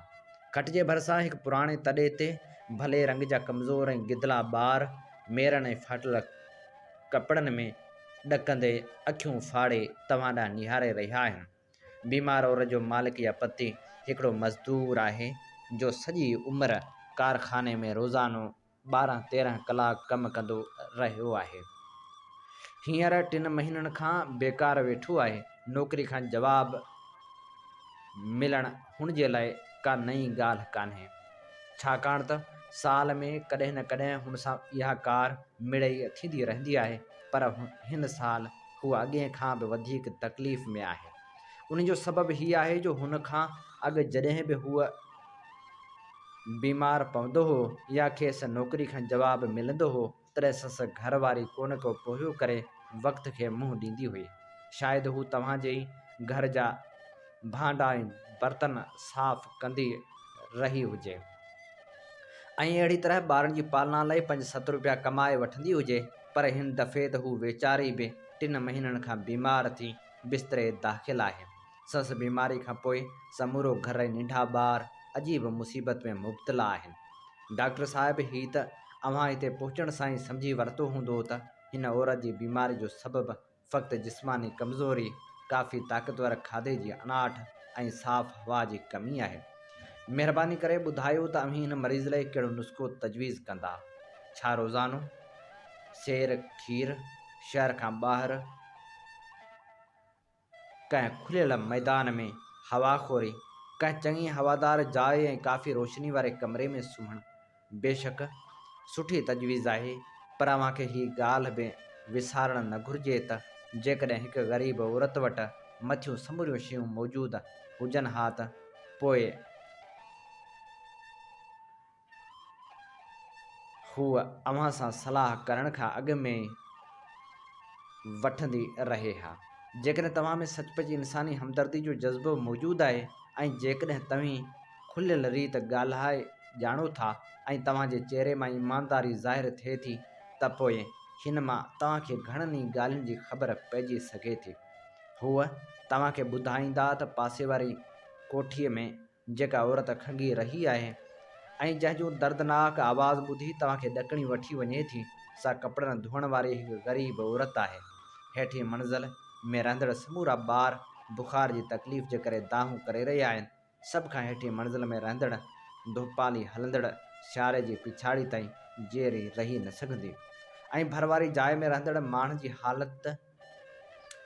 کٽ جي ڀرسان هڪ پراڻي تڏي تي ڀلي رنگ جا ڪمزور ۽ گدلا ٻار ميرن ۽ ڦاٽل ڪپڙن ۾ ڏڪندي اکيون ڦاڙي توهان ڏانهن نهاري رهيا آهن. بيمار عورت جو مالڪ يا پتي هڪڙو مزدور آهي جو سڄي عمر ڪارخاني ۾ روزانو ٻارهن تيرهن ڪلاڪ ڪم ڪندو رهيو آهي هينئر ٽن مهينن کان بيڪار ويٺو آهي نوڪري کان جواب ملڻ هن جي لاء ڪا نئين ڳالهه ڪانهي ڇاڪاڻ ته سال ۾ ڪڏهن نه ڪڏهن هن سان اها ڪار مڙئي ٿيندي رهندي آهي پر هن سال هو اڳئين کان به وڌيڪ تڪليف ۾ آهي ان جو سبب هي آهي جو هن کان اڳ جڏهن به هوء بيمار پوندو هو يا کيس نوڪري کان جواب ملندو هو تڏهن سندس گهر واري ڪونه ڪو پورهيو ڪري وقت کي منهن ڏيندي هئي. شايد هو توهان جي ئي گهر جا ڀانڊا ۽ برتن صاف ڪندي رهي هجي ۽ اهڙي طرح ٻارن جي پالنا لاء پنج ست روپيا ڪمائي وٺندي هجي پر هن دفعي ته هو ويچاري به ٽن مهينن کان بيمار ٿي بستري داخل آهي. سندس بيماري کان پوء سمورو گهر ۽ ننڍا ٻار عجيب مصيبت ۾ مبتلا آهن. ڊاڪٽر صاحب هي ته اوهان هتي پهچڻ سان ئي سمجهي ورتو هوندو ته هن عورت جي بيماري جو سبب فقط جسماني ڪمزوري، ڪافي طاقتور کاڌي جي اڻاٺ ۽ صاف هوا جي ڪمي آهي. مهرباني ڪري ٻڌايو ته اوهين هن مريض لئي ڪهڙو نسخو تجويز ڪندا؟ ڇا روزانو سير، کير، شهر کان ٻاهر؟ ڪنهن کليل ميدان ۾ هوا خوري، ڪنهن چڱي هوادار جاء ۽ ڪافي روشني واري ڪمري ۾ سمهڻ بيشڪ سٺي تجويز آهي، پر اوهان کي هي ڳالهه به وسارڻ نه گهرجي ته جيڪڏهن هڪ غريب عورت وٽ مٿيون سموريون شيون موجود هجن ها ته پوء هوء اوهان سان صلاح ڪرڻ کان اڳ ۾ وٺندي رهي ها. جيڪڏهن توهان ۾ سچ پچ انساني همدردي جو جذبو موجود آهي ۽ جيڪڏهن توهين کليل ريت ڳالهائي ڄاڻو ٿا ۽ توهان جي چهري مان ايمانداري ظاهر ٿئي ٿي ته پوء هن مان توهان کي گهڻن ئي ڳالهين جي خبر پئجي سگهي ٿي. هوء توهان کي ٻڌائيندا ته پاسي واري ڪوٺيء ۾ جيڪا عورت کنگهي رهي آهي ۽ جنهن جون دردناڪ آواز ٻڌي توهان کي ڏڪڻي وٺي وڃي ٿي، سا ڪپڙن ڌوئڻ واري هڪ غريب عورت آهي. هيٺين منزل ۾ رهندڙ سمورا ٻار بخار جي تڪليف جي ڪري دانهون ڪري رهيا آهن. سڀ کان هيٺين منزل ۾ رهندڙ ڌوپالي هلندڙ سياري جي پڇاڙي تائين جيئري رهي نه سگهندي ۽ ڀر واري جاء ۾ رهندڙ ماڻهن جي حالت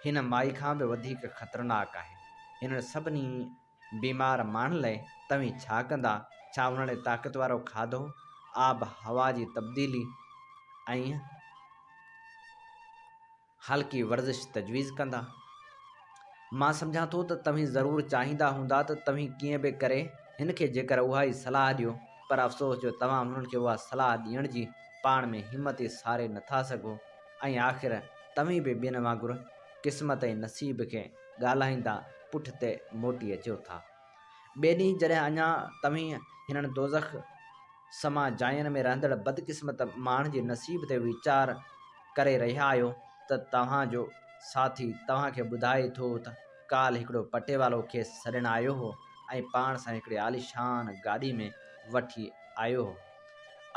هن مائي کان به وڌيڪ خطرناڪ آهي. هنن سڀني بيمار ماڻهن لئه توهين ڇا ڪندا؟ ڇا انهن لئه طاقت وارو کاڌو، آب هوا جي تبديلي ۽ هلڪي ورزش تجويز ڪندا؟ مان سمجهان ٿو ته توهين ضرور چاهيندا هوندا ته توهين ڪيئن به ڪري هن کي جيڪر اها ئي صلاح ڏيو پر افسوس جو توهان هنن کي اها صلاح ڏيڻ جي پاڻ ۾ همت ئي ساري نٿا سگهو ۽ آخر توهين به ٻين وانگر قسمت ۽ نصيب کي ڳالهائيندا پٺتي موٽي اچو ٿا. ٻئي ڏينهن جڏهن اڃا توهين هنن دوزخ سما جاين ۾ رهندڙ بدقسمت ماڻهن جي نصيب تي ويچار ڪري رهيا آهيو ته توهان جو ساٿي توهان کي ٻڌائي ٿو ته ڪالهه هڪڙو پٽيوالو کيس سڏڻ آيو هو ۽ پاڻ سان هڪڙي عاليشان گاڏي ۾ وٺي آيو هو.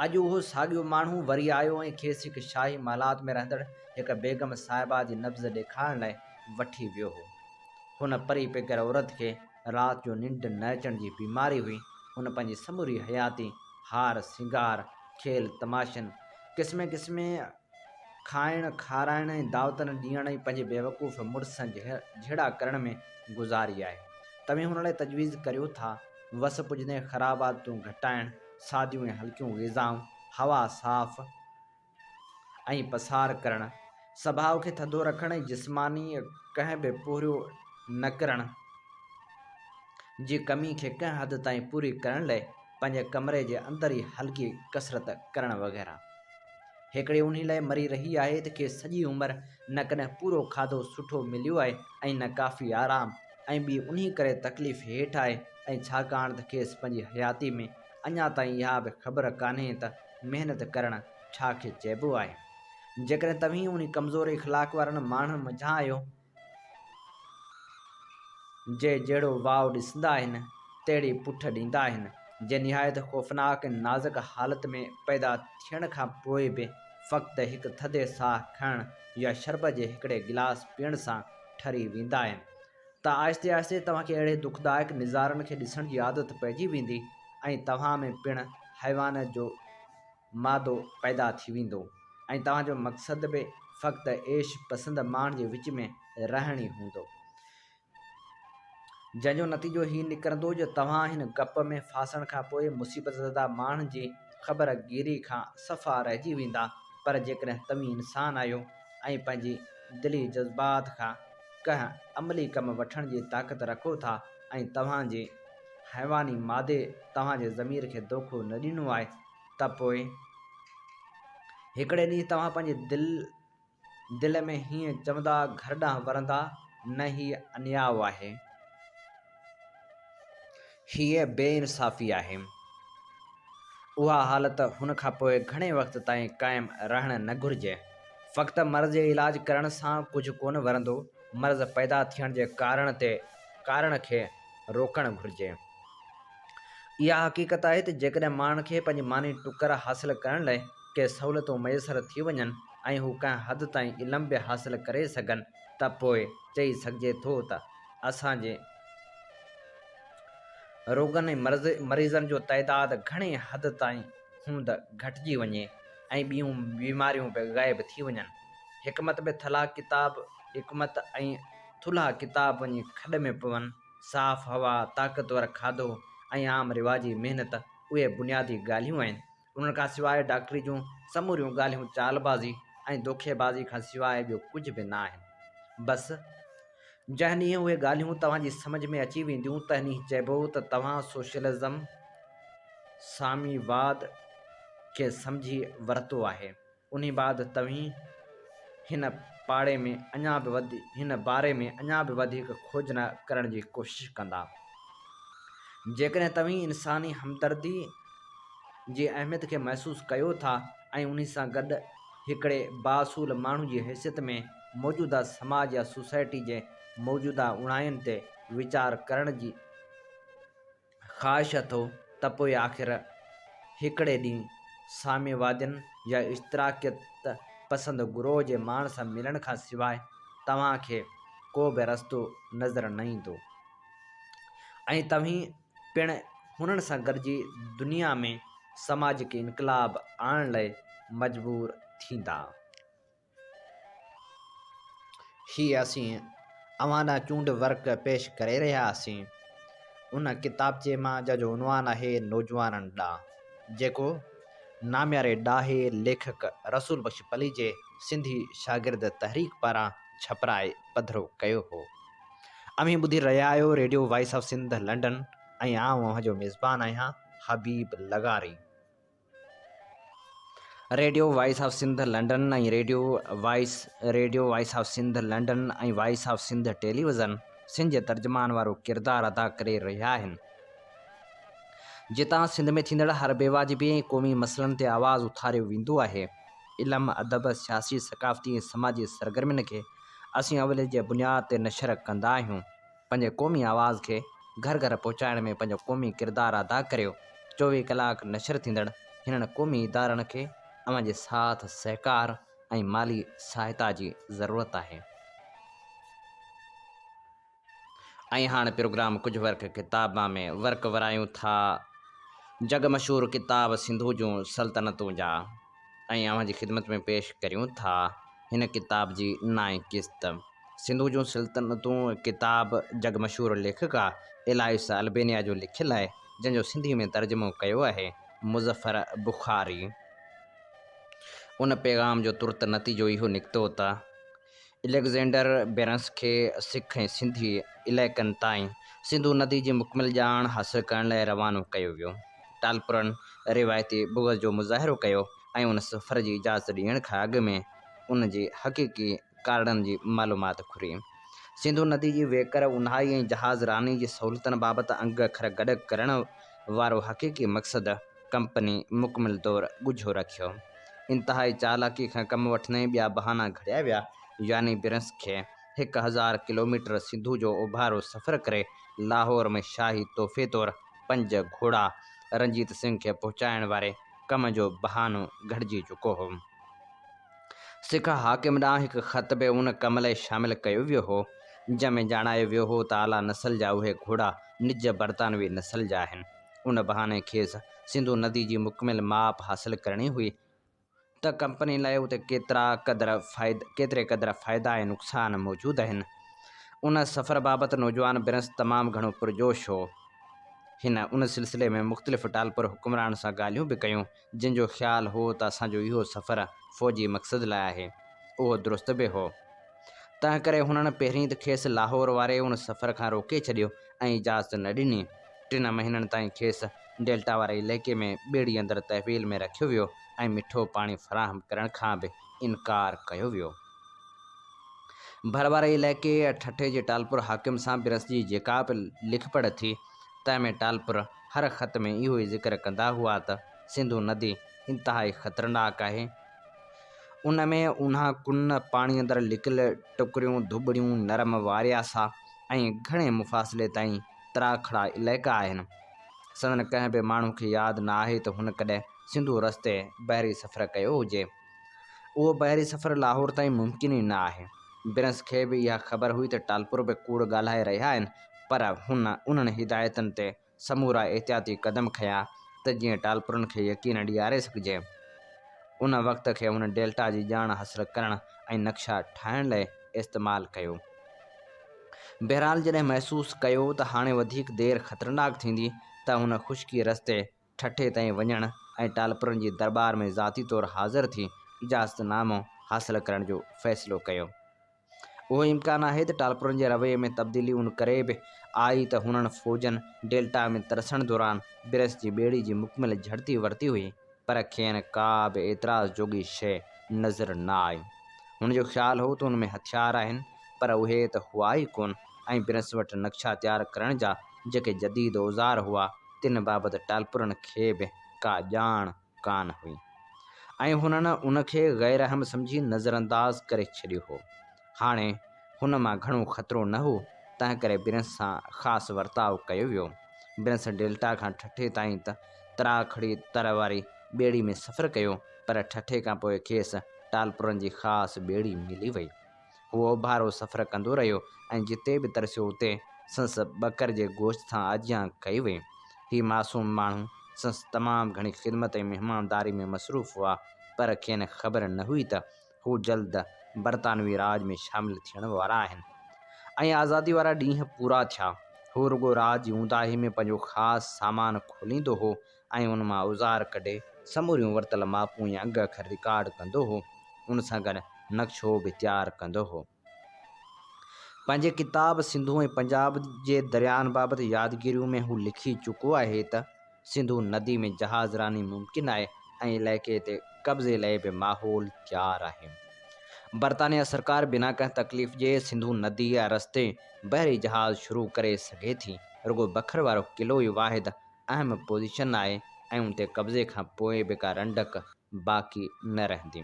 اڄ اهو ساڳيو ماڻهو وري آيو ۽ کيس هڪ شاهي محلات ۾ رهندڙ هڪ بيگم صاحبه جي نبض ڏيکارڻ لاء وٺي ويو هو. هن پري پيگر عورت کي رات جو ننڊ نه اچڻ جي بيماري هئي. هن پنهنجي سموري حياتي هار سينگار، کيل تماشن، قسمين قسمين کائڻ کارائڻ ۽ دعوتن ڏيڻ ۽ پنهنجي بيوقوف مڙس سان جهيڙا ڪرڻ ۾ گذاري آهي. توهين هن لاء تجويز ڪريو ٿا. وس پڄندي خراب عادتون گهٽائڻ، ساديون ۽ هلڪيون غذائون، هوا صاف، ۽ پسار ڪرڻ، سڀاء کي ٿڌو رکڻ ۽ جسماني ڪنهن به پوريو نه ڪرڻ جي ڪمي کي ڪنهن حد تائين پوري ڪرڻ لئه پنهنجي ڪمري جي اندر ئي هلڪي ڪسرت ڪرڻ وغيره. هيڪڙي انهي لئه مري رهي آهي ته کيس سڄي عمر نه ڪڏهن پورو کاڌو سٺو مليو آهي ۽ نه ڪافي آرام ۽ ٻي انهي ڪري تڪليف هيٺ آهي ۽ ڇاڪاڻ ته کيس پنهنجي حياتي ۾ اڃا تائين اها به خبر ڪانهي ته محنت ڪرڻ ڇا کي چئبو آهي. جيڪڏهن توهين انهي ڪمزور اخلاق وارن ماڻهن منجهان آهيو، جي جهڙو واء ڏسندا آهن، تهڙي پٺ ڏيندا آهن، جي نهايت خوفناڪ ۽ نازڪ حالت ۾ پيدا ٿيڻ کان پوء به فقط هڪ ٿڌي ساهه کڻڻ يا شربت جي هڪڙي گلاس پيئڻ سان ٺري ويندا آهن، ته آهستي آهستي توهان کي اهڙي دکدائڪ نظارن کي ڏسڻ جي عادت پئجي ويندي ۽ توهان ۾ پڻ حيوان جو مادو پيدا ٿي ويندو ۽ توهان جو مقصد به فقط عيش پسند ماڻهن جي وچ ۾ رهڻ ئي هوندو. جنهن جو نتيجو هي نڪرندو جو توهان هن گپ ۾ ڦاسڻ کان پوء مصيبت زده ماڻهن جي خبر گيري کان صفا رهجي ويندا پر جيڪڏهن توهين انسان آهيو ۽ پنهنجي دلي جذبات کان ڪنهن عملي ڪم وٺڻ جي طاقت رکو ٿا ۽ توهان جي حيواني مادي توهان جي ضمير کي دوکو نه ڏنو آهي ته پوء هڪڙي ڏينهن توهان پنهنجي دل دل ۾ هيئن چوندا گهر ڏانهن ورندا نه هي انياء آهي. هيء بي انصافي آهي. اها حالت هن کان پوء گهڻي وقت تائين قائم رهڻ نه گهرجي. فقط مرض جو علاج ڪرڻ سان ڪجهه ڪونه ورندو، مرض پيدا ٿيڻ جي ڪارڻ تي ڪارڻ کي روڪڻ گهرجي. اها حقيقت آهي ته جيڪڏهن ماڻهن کي پنهنجي ماني ٽڪر حاصل ڪرڻ لاء ڪي سهولتون ميسر ٿي وڃن ۽ هو ڪنهن حد تائين علم به حاصل ڪري سگهن ته پوء چئي سگهجي ٿو ته اسان جي روڳن ۽ مريضن جو تعداد گهڻي حد تائين هوند گهٽجي وڃي ۽ ٻيون بيماريون به غائب ٿي وڃن. حڪمت ۾ ٿلها ڪتاب حڪمت ۽ ٿلها ڪتاب وڃي کڏ ۾ پون. صاف هوا، طاقتور کاڌو ۽ عام رواجي محنت اهي بنيادي ڳالهيون آهن. ان کان سواء ڊاڪٽري جون سموريون ڳالهيون چال بازي ۽ دوکي بازي کان سواء ٻيو ڪجهه به نه آهن. بس، جنهن ڏينهن اهي ڳالهيون توهان جي سمجهه ۾ اچي وينديون تنهن ڏينهن چئبو ته توهان سوشلزم، سامي واد، کي سمجهي ورتو آهي. انهي بعد توهين هن پاڙي ۾ اڃا به هن باري ۾ اڃا به وڌيڪ کوج نه ڪرڻ جي ڪوشش ڪندا. جيڪڏهن توهين انساني همدردي جي اهميت کي محسوس ڪيو ٿا ۽ انهي سان گڏ هڪڙي بااصول ماڻهو جي حيثيت ۾ موجوده سماج يا سوسائٽي جي موجوده اوڻاين تي ويچار ڪرڻ جي خواهش اٿو ته پوء آخر هڪڙي ڏينهن ساميوادين يا اشتراڪيت پسند گروهه جي ماڻهن سان ملڻ کان سواء توهان کي ڪو به رستو نظر نه ايندو ۽ توهين پڻ هنن سان گڏجي دنيا ۾ سماجڪ انقلاب آڻڻ لاء مجبور ٿيندا. هي اسين اوهان ڏانهن چونڊ ورق پيش ڪري رهيا آهيون. ان ڪتابچي مان جنهن جو عنوان آهي نوجوانن ڏانهن جيڪو نامياري ڏاهي ليکڪ رسول بخش پليجي سنڌي شاگرد تحريڪ پاران ڇپرائي پڌرو ڪيو هو. اوهين ٻڌي رهيا آهيو Radio Voice of Sindh London ۽ آئون اوهان جو ميزبان آهيان حبيب لغاري. Radio Voice of Sindh London ۽ Radio Voice Radio Voice of Sindh London ۽ Voice of Sindh television Sindh جي ترجمان وارو ڪردار ادا ڪري رهيا آهن جتان سنڌ ۾ ٿيندڙ هر بي واجبي ۽ قومي مسئلن تي آواز اٿاريو ويندو آهي علم ادب سياسي ثقافتي ۽ سماجي سرگرمين کي اسين اوليت جي بنياد تي نشر ڪندا آهيون. پنهنجي قومي آواز کي گهر گهر پهچائڻ ۾ پنهنجو قومي ڪردار ادا ڪريو چوويهه ڪلاڪ نشر ٿيندڙ هنن قومي ادارن کي اوهان جي ساٿ سهڪار ۽ مالي سهائتا جي ضرورت آهي ۽ هاڻ پروگرام ڪجهه ورق ڪتابان ۾ ورق ورايون ٿا جڳ مشهور ڪتاب سنڌو جون سلطنتون جا. ۽ اوهان جي خدمت ۾ پيش ڪريون ٿا هن ڪتاب جي نائين قسط. سنڌو جون سلطنتون ڪتاب جڳ مشهور ليکڪا الائيس البينيا جو لکيل آهي جنهن جو سنڌي ۾ ترجمو ڪيو آهي مظفر بخاري. ان پيغام جو ترت نتيجو اهو نڪتو ته. اليگزينڊر بيرنس کي سک ۽ سنڌي علائقن تائين سنڌو ندي جي مڪمل ڄاڻ حاصل ڪرڻ لاء روانو ڪيو ويو. ٽالپرن روايتي بغض جو مظاهرو ڪيو ۽ ان سفر جي اجازت ڏيڻ کان اڳ ۾ ان جي حقيقي ڪارڻن جي معلومات گهري. سنڌو ندي جي ويڪر اونهائي ۽ جهاز راني جي سهولتن بابت انگ اکر گڏ ڪرڻ وارو حقيقي مقصد، ڪمپني مڪمل طور ڳجهو رکيو. انتهائي چالاڪي کان ڪم وٺندي ٻيا بهانا گهڙيا ويا، يعني برنس کي هڪ هزار ڪلوميٽر سنڌو جو اوڀارو سفر ڪري لاهور ۾ شاهي تحفي طور پنج گهوڙا رنجيت سنگهه کي پهچائڻ واري ڪم جو بهانو گهڙجي چڪو هو. سکه حاڪم ڏانهن هڪ خط به ان ڪم لئه شامل ڪيو ويو هو، جنهن ۾ ڄاڻايو ويو هو ته اعليٰ نسل جا اهي گهوڙا نج برطانوي نسل جا آهن. ان بهاني کيس سنڌو ندي جي مڪمل ماپ حاصل ڪرڻي هئي ته ڪمپني لاء اتي ڪيترا قدر فائدا ڪيتري قدر فائدا ۽ نقصان موجود آهن. ان سفر بابت نوجوان برنس تمام گهڻو پرجوش هو. هن ان سلسلي ۾ مختلف ٽالپر حڪمرانن سان ڳالهيون به ڪيون. جن جو خيال هو ته اسان جو اهو سفر فوجي مقصد لاء آهي، اهو درست به هو. تنهنڪري هنن پهرين ته کيس لاهور واري ان سفر کان روڪي ڇڏيو ۽ اجازت نه ڏني. ٽن مهينن تائين کيس ڊيلٽا واري علائقي ۾ ٻيڙي اندر تحويل ۾ رکيو ويو ۽ مٺو پاڻي فراهم ڪرڻ کان به انڪار ڪيو ويو. ڀر واري علائقي ٺٽي جي ٽالپر حاڪم سان برنس جي جيڪا به لک پڙهه ٿي، تنهن ۾ ٽالپر، هر خط ۾ اهو ئي ذڪر ڪندا هئا ته سنڌو ندي انتهائي خطرناڪ آهي، ان ۾ اونها ڪن، پاڻي اندر لڪل ٽڪريون، ڌٻڙيون، نرم وارياسا ۽ گهڻي مفاصلي تائين ترا کڙا علائقا آهن. سندن ڪنهن به ماڻهو کي ياد نه آهي ته هن ڪڏهن سنڌو رستي بحري سفر ڪيو هجي. اهو بحري سفر لاهور تائين ممڪن ئي نه آهي. برنس کي به اها خبر هئي ته ٽالپر به ڪوڙ ڳالهائي رهيا آهن، پر هن انهن هدايتن تي سمورا احتياطي قدم کنيا ته جيئن ٽالپرن کي يقين ڏياري سگهجي. ان وقت کي هن ڊيلٽا جي ڄاڻ حاصل ڪرڻ ۽ نقشا ٺاهڻ لئي استعمال ڪيو. بهرحال جڏهن محسوس ڪيو ته هاڻي وڌيڪ دير خطرناڪ ٿيندي ته هن خشڪي رستي ٺٽي تائين وڃڻ ۽ ٽالپرن جي درٻار ۾ ذاتي طور حاضر ٿي اجازت نامو حاصل ڪرڻ جو فيصلو ڪيو. اهو امڪان آهي ته ٽالپرن جي رويي ۾ تبديلي ان ڪري به آئي ته هنن فوجن ڊيلٽا ۾ ترسڻ دوران بريس جي ٻيڙي جي مڪمل جهڙتي ورتي هئي پر کين ڪا به اعتراض جوڳي شيء نظر نه آئي. هن جو خيال هو ته ان ۾ هٿيار آهن پر اهي ته هئا ئي ڪونه ۽ بريس وٽ نقشا تيار ڪرڻ جا جيڪي جديد اوزار هئا، تن بابت ٽالپرن کي به ڪا ڄاڻ ڪانه هئي ۽ هنن ان کي غير اهم سمجهي نظرانداز ڪري ڇڏيو هو. هاڻي هن مان گهڻو خطرو نه هو، تنهنڪري برنس سان خاص ورتاء ڪيو ويو. برنس ڊيلٽا کان ٺٽي تائين ته تراکڙي تر واري ٻيڙي ۾ سفر ڪيو، پر ٺٽي کان پوء کيس ٽالپرن جي خاص ٻيڙي ملي وئي. هو اوڀارو سفر ڪندو رهيو ۽ جتي به ترسيو اتي سندس ٻڪر جي گوشت سان آجيان ڪئي وئي. هي معصوم ماڻهو سندس تمام گهڻي خدمت ۽ مهمانداري ۾ مصروف هئا، پر کين خبر نه هئي ته هو جلد برطانوي راڄ ۾ شامل ٿيڻ وارا آهن ۽ آزادي وارا ڏينهن پورا ٿيا. هو رڳو رات جي اونداهي ۾ پنهنجو خاص سامان کوليندو هو ۽ ان مان اوزار ڪڍي سموريون ورتل ماپون ۽ انگ اکر رڪارڊ ڪندو هو. ان سان گڏ نقشو به تيار ڪندو هو. پنهنجي ڪتاب سنڌو ۽ پنجاب جي درياهن بابت يادگيريون ۾ هو لکي چڪو آهي ته، سنڌو ندي ۾ جهاز راني ممڪن آهي ۽ علائقي تي قبضي لئي به ماحول تيار آهي. برطانيه سرڪار بنا ڪنهن تڪليف جي سنڌو نديء رستي بحري جهاز شروع ڪري سگهي ٿي. رڳو بکر وارو قلعو ئي واحد اهم پوزيشن آهي ۽ ان تي قبضي کان پوء به ڪا رنڊڪ باقي نه رهندي.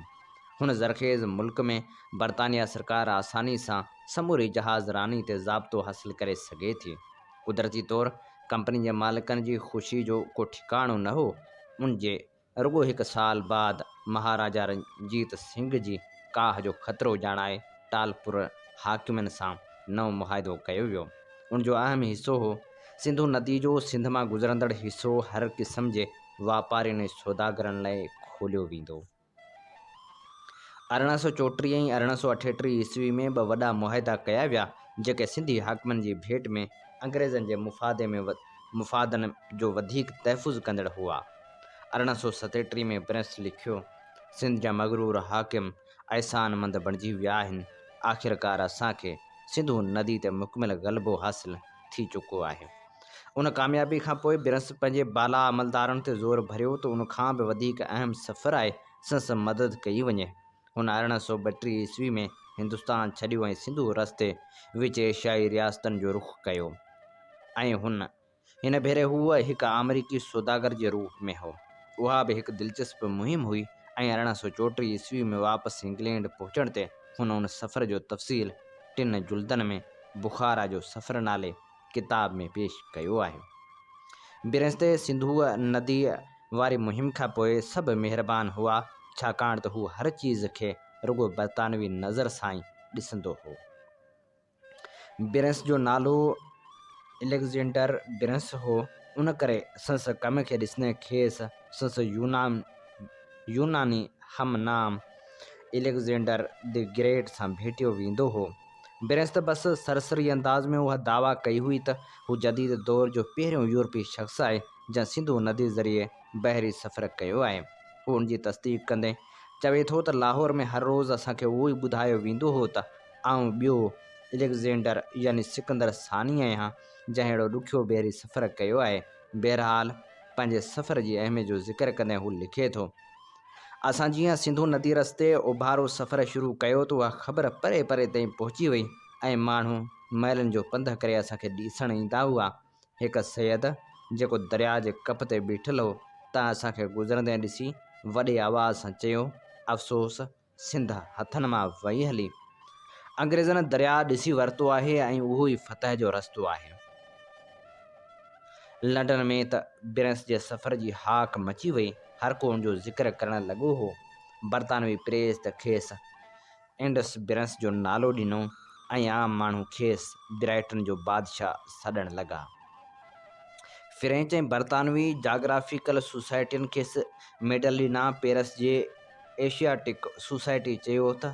هن زرخيز ملڪ ۾ برطانيا سرڪار آساني سان سموري جهاز راني تي ضابطو حاصل ڪري سگهي ٿي. قدرتي طور ڪمپني جي مالڪن جي خوشي جو ڪو ٺڪاڻو نه هو. ان جي رڳو هڪ سال بعد مهاراجا رنجيت سنگهه جي ڪاهه جو خطرو ڄاڻائي ٽالپور حاڪمن سان نئون معاهدو ڪيو ويو. ان جو اهم حصو هو سنڌو ندي جو سنڌ مان گذرندڙ حصو هر قسم جي واپارين ۽ سوداگرن لاء کوليو ويندو. ارڙهن سؤ چوٽيهه ۽ ارڙهن سؤ اٺيٽيهه عيسوي ۾ ٻه وڏا معاهدا ڪيا ويا، جيڪي سنڌي حاڪمن جي ڀيٽ ۾ انگريزن جي مفادن جو وڌيڪ تحفظ ڪندڙ هئا. ارڙهن سؤ ستيٽيهه ۾ پرينس لکيو، سنڌ جا مغرور حاڪم احسان مند بڻجي ويا آهن، آخرڪار اسان کي سنڌو ندي تي مڪمل غلبو حاصل ٿي چڪو آهي. ان ڪاميابي کان پوء پرينس پنهنجي بالا عملدارن تي زور ڀريو ته ان کان به وڌيڪ اهم سفر آهي سنس مدد ڪئي وڃي. هن ارڙهن سؤ ٻٽيهه عيسوي ۾ هندستان ڇڏيو ۽ سنڌو رستي وچ ايشيائي رياستن جو رخ ڪيو ۽ هن هن ڀيري هو هڪ آمريڪي سوداگر جي روپ ۾ هو. اها به هڪ دلچسپ مهم هئي ۽ ارڙهن سؤ چوٽيهه عيسوي ۾ واپس انگلينڊ پهچڻ تي هن ان سفر جو تفصيل ٽن جلدن ۾ بخارا جو سفر نالي ڪتاب ۾ پيش ڪيو آهي. برنسٽي سنڌوء نديء واري مهم کان پوء سڀ مهربان هئا، ڇاڪاڻ ته هو هر چيز کي رڳو برطانوي نظر سان ئي ڏسندو هو. برنس جو نالو اليگزينڊر برنس هو، ان ڪري سندس ڪم کي ڏسندي کيس سندس يوناني هم نام اليگزينڊر دي گريٽ سان ڀيٽيو ويندو هو. برنس ته بس سرسري انداز ۾ اها دعويٰ ڪئي هئي ته هو جديد دور جو پهريون يورپي شخص آهي جنهن سنڌو ندي ذريعي بحري سفر ڪيو آهي. هو ان جي تصديق ڪندي چوي ٿو ته لاهور ۾ هر روز اسان کي اهو ئي ٻڌايو ويندو هو ته، آئون ٻيو اليگزينڊر يعني سڪندر ثاني آهيان، جنهن اهڙو ڏکيو بحري سفر ڪيو آهي. بهرحال، پنهنجي سفر جي اهميت جو ذڪر ڪندي هو لکي ٿو. اسان جيئن سنڌو ندي رستي اوڀارو سفر شروع ڪيو ته اها خبر پري پري تائين پهچي وئي ۽ ماڻهو ميلن جو پنڌ ڪري اسان کي ڏسڻ ايندا هئا. هڪ سيد، جيڪو درياء جي ڪپ تي بيٺل هو، تنهن اسان کي گذرندي ڏسي وڏي آواز سان چيو، افسوس! سنڌ هٿن مان وئي هلي. انگريزن درياء ڏسي ورتو آهي ۽ اهو ئي فتح جو رستو آهي. لنڊن ۾ ته برنس جي سفر جي هاڪ مچي وئي، هر ڪو ان جو ذڪر ڪرڻ لڳو هو. برطانوي پريس ته کيس انڊس برنس جو نالو ڏنو ۽ عام ماڻهو کيس برائٽن جو بادشاهه سڏڻ لڳا. فرينچ ۽ برطانوي جاگرافيڪل سوسائٽين کيس ميڊلينا پيرس جي ايشياٽڪ سوسائٽيء چيو تھ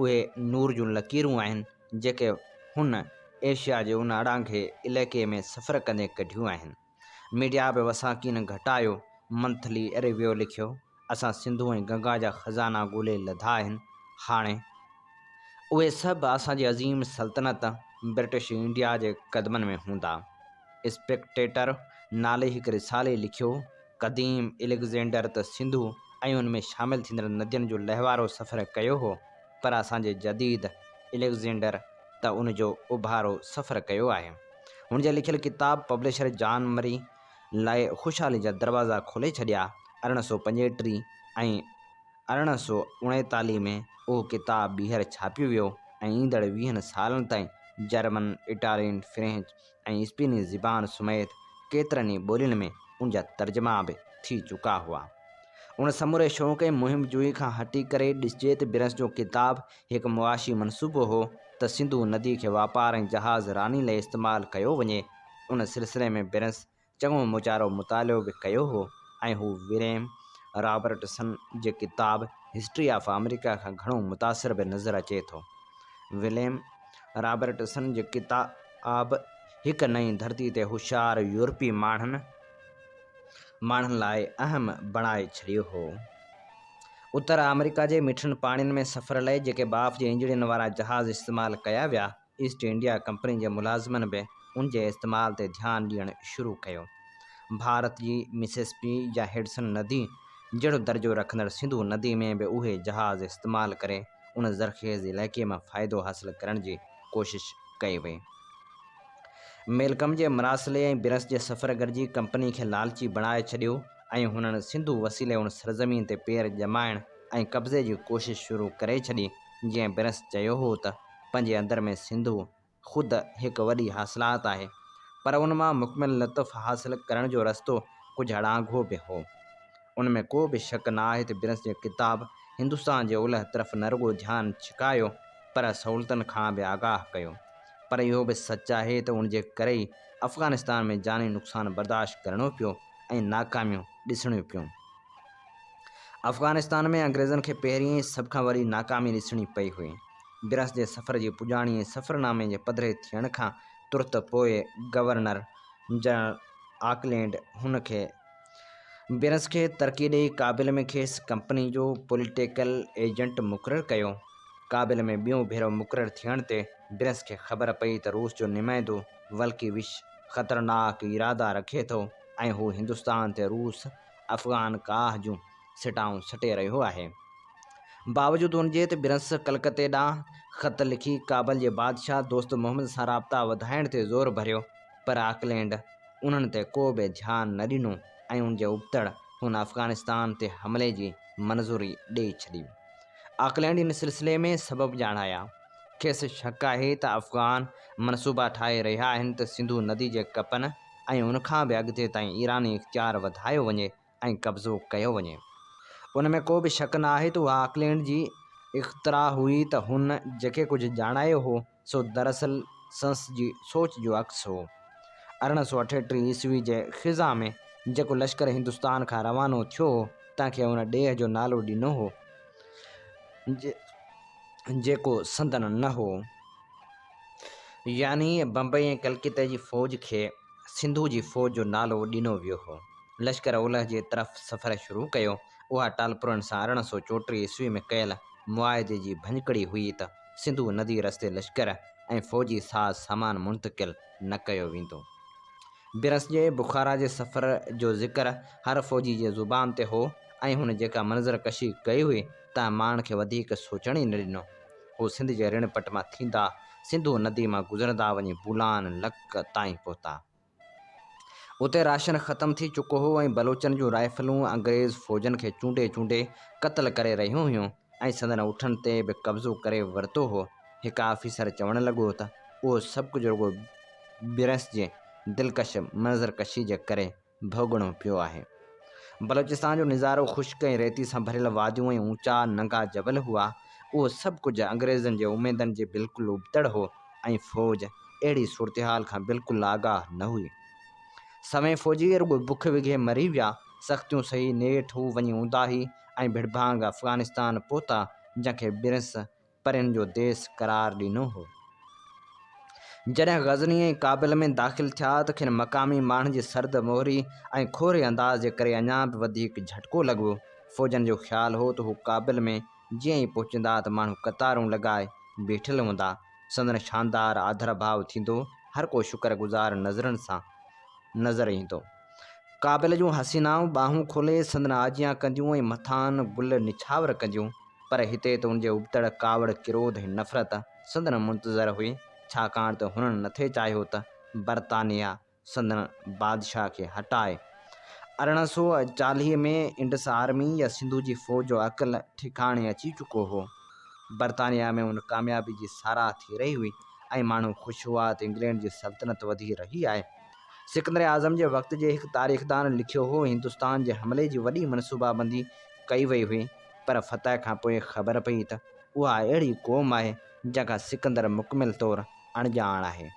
اھي نور جون لڪيرون آھن، جيڪي ھن ايشيا جي ان اڙانگھي عليقي ۾ سفر ڪندي ڪڍيون آھن. ميڊيا بھ وساکي نھ گھٽايو. منٿلي ريويو لکيو، اسان سنڌو ۽ گنگا جا خزانا ڳولي لڌا آھن. ھاڻي. اهي سڀ اسان جي عظيم سلطنت برٽش انڊيا جي قدمن ۾ هوندا. اسپيڪٽيٽر نالي هڪ رسالي لکيو، قديم اليگزينڊر ته سنڌو ۽ ان ۾ شامل ٿيندڙ ندين جو لهوارو سفر ڪيو هو، پر اسان جي جديد اليگزينڊر ته ان جو اڀارو سفر ڪيو آهي. هن جا لکيل ڪتاب پبلشر جان مري لاء خوشحالي جا دروازا کولي ڇڏيا، ارڙهن سؤ پنجيٽيهه ۽. ارڙهن سؤ اڻيتاليهه ۾ اهو ڪتاب ٻيهر ڇاپيو ويو ۽ ايندڙ ويهن سالن تائين جرمن، اٽالين، فرينچ ۽ اسپيني زبان سميت ڪيترن ئي ٻولين ۾ ان جا ترجما به ٿي چڪا هئا. ان سموري شوق ۽ مهم جوئي کان هٽي ڪري ڏسجي ته برنس جو ڪتاب هڪ معاشي منصوبو هو ته سنڌو ندي کي واپار ۽ جهاز راني لئي استعمال ڪيو وڃي. ان سلسلي ۾ برنس چڱو مچارو مطالعو به ڪيو هو ۽ هو وريم رابرٽسن جي ڪتاب هسٽري آف آمريڪا کان گهڻو متاثر به نظر اچي ٿو. وريم رابرٽسن جي ڪتاب هڪ نئين ڌرتي تي هوشيار يورپي ماڻهن ماڻهن لاء اهم بڻائي ڇڏيو هو. اتر آمريڪا جي مٺن پاڻين ۾ سفر لئي جيڪي ٻاڦ جي انجڻين وارا جهاز استعمال ڪيا ويا، ايسٽ انڊيا ڪمپني جي ملازمن به ان جي استعمال تي ڌيان ڏيڻ شروع ڪيو. ڀارت جي مسيس پي يا هڊسن ندي جهڙو درجو رکندڙ سنڌو ندي ۾ به اهي جهاز استعمال ڪري ان زرخيز علائقي مان فائدو حاصل ڪرڻ جي ڪوشش ڪئي وئي. ميلڪم جي مراسلي ۽ برنس جي سفر گڏجي ڪمپني کي لالچي بڻائي ڇڏيو ۽ هنن سنڌو وسيلي ان سرزمين تي پير ڄمائڻ ۽ قبضي جي ڪوشش شروع ڪري ڇڏي جيئن برنس چيو هو ته پنهنجي اندر ۾ سنڌو خود هڪ وڏي حاصلات آهي، پر ان مان مڪمل لطف حاصل ڪرڻ جو رستو ڪجهه اڙانگهو به هو. ان ۾ ڪو به شڪ نه آهي ته برنس جي ڪتاب هندستان جي اولهه طرف نه رڳو ڌيان ڇڪايو، پر سهولتن کان به آگاهه ڪيو. پر اهو به سچ آهي ته ان جي ڪري ئي افغانستان ۾ جاني نقصان برداشت ڪرڻو پيو ۽ ناڪاميون ڏسڻيون پيون. افغانستان ۾ انگريزن کي پهرين ۽ سڀ کان وڏي ناڪامي ڏسڻي پئي هئي. برس جي سفر جي پڄاڻي ۽ سفرنامي جي پڌري ٿيڻ کان ترت پوء گورنر جنرل آڪلينڊ هن کي برس کي ترقي ڏيئي ڪابل ۾ کيس ڪمپني جو پوليٽيڪل ايجنٽ مقرر ڪيو. ڪابل ۾ ٻيون ڀيرو مقرر ٿيڻ تي برس کي خبر پئي ته روس جو نمائندو ولڪيوش خطرناڪ ارادا رکي ٿو ۽ هو هندستان تي روس افغان ڪاهه جون سٽائون سٽي رهيو آهي. باوجود ان جي ته برنس ڪلڪتي ڏانهن خط لکي ڪابل جي بادشاهه دوست محمد سان رابطا وڌائڻ تي زور ڀريو پر آڪلينڊ انهن تي ڪو به ڌيان نه ڏنو ۽ ان جي ابتڙ هن افغانستان تي حملي جي منظوري ڏئي ڇڏي. آڪلينڊ ان سلسلي ۾ سبب ڄاڻايا. کيس شڪ آهي ته افغان منصوبا ٺاهي رهيا آهن ته سنڌو ندي جي ڪپن ۽ ان کان به اڳتي تائين ايراني اختيار وڌايو وڃي ۽ قبضو ڪيو وڃي. ان ۾ ڪو به شڪ نه آهي ته اها آڪلينڊ جي اختراع هئي ته هن جيڪي ڪجهه ڄاڻايو هو سو دراصل سنس جي سوچ جو عڪس هو. ارڙهن سؤ اٺيٽيهه عيسوي جي خزان ۾ جيڪو لشڪر هندستان کان روانو ٿيو هو تنهن کي ان ڏيهه جو نالو ڏنو هو جيڪو سندن نه هو. يعني بمبئي ۽ ڪلڪتي جي فوج کي سنڌو جي فوج جو نالو ڏنو ويو هو. لشڪر اولهه جي طرف سفر شروع ڪيو. اها ٽالپرن سان ارڙهن سؤ چوٽيهه عيسوي ۾ ڪيل معاهدي جي ڀڃڪڙي هئي ته سنڌو ندي رستي لشڪر ۽ فوجي ساز سامان منتقل نه ڪيو ويندو. برس جي بخارا جي سفر جو ذڪر هر فوجي جي زبان تي هو ۽ هن جيڪا منظر ڪشي ڪئي هئي تنهن ماڻهن کي وڌيڪ سوچڻ ئي نه ڏنو. هو سنڌ جي رڻ پٽ مان ٿيندا سنڌو ندي مان گذرندا وڃي بولان، لڪ، تائين پهتا. اتي راشن ختم ٿي چڪو هو ۽ بلوچن جون رائفلون انگريز فوجن کي چونڊي چونڊي قتل ڪري رهيون هيون ۽ سندن اٺن تي به قبضو ڪري ورتو هو. هڪ آفيسر چوڻ لڳو ته اهو سڀ ڪجهه رڳو برنس جي دلڪش منظر ڪشي جي ڪري. ڀوڳڻو پيو آهي. بلوچستان جو نظارو خشڪ ۽ ريتي سان ڀريل واديون ۽ اوچا ننگا جبل هئا. اهو سڀ ڪجهه انگريزن جي اميدن جي بلڪل ابتڙ هو ۽ فوج اهڙي صورتحال کان بلڪل آگاهه نه هئي. سوين فوجي رڳو بک وگهي مري ويا. سختيون سهي نيٺ هو وڃي اونداهي ۽ ڀڙڀانگ افغانستان پهتا جنهن کي برنس پرين جو ديس قرار ڏنو هو. جڏهن غزني ۽ ڪابل ۾ داخل ٿيا ته کين مقامي ماڻهن جي سرد مهري ۽ کوهري انداز جي ڪري اڃا به وڌيڪ جهٽڪو لڳو. فوجن جو خيال هو ته هو ڪابل ۾ جيئن ئي پهچندا ته ماڻهو قطارون لڳائي بيٺل هوندا. سندن شاندار آڌرڀاء ٿيندو، هر ڪو شڪر گذار نظرن سان نظر ايندو. قابل جون حسينائون ٻانهون کولي سندن آجيان ڪنديون ۽ مٿان گل نڇاور ڪنديون، پر هتي ته ان جي ابتڙ ڪاوڙ، ڪروڌ ۽ نفرت سندن منتظر هئي، ڇاڪاڻ ته هنن نٿي چاهيو ته برطانيا سندن بادشاهه کي هٽائي. ارڙهن سؤ چاليهه ۾ انڊس آرمي يا سنڌو جي فوج جو عقل ٺڪاڻي اچي چڪو هو. برطانيا ۾ ان ڪاميابي جي ساراهه ٿي رهي هئي ۽ ماڻهو خوش هئا ته انگلينڊ جي سلطنت وڌي رهي آهي. سڪندر اعظم جي وقت جي هڪ تاريخدان لکيو هو، هندستان جي حملي جي وڏي منصوبابندي ڪئي وئي هئي، پر فتح کان پوء خبر پئي ته اها اهڙي قوم آهي، جنهن کان سڪندر مڪمل طور اڻڄاڻ آهي.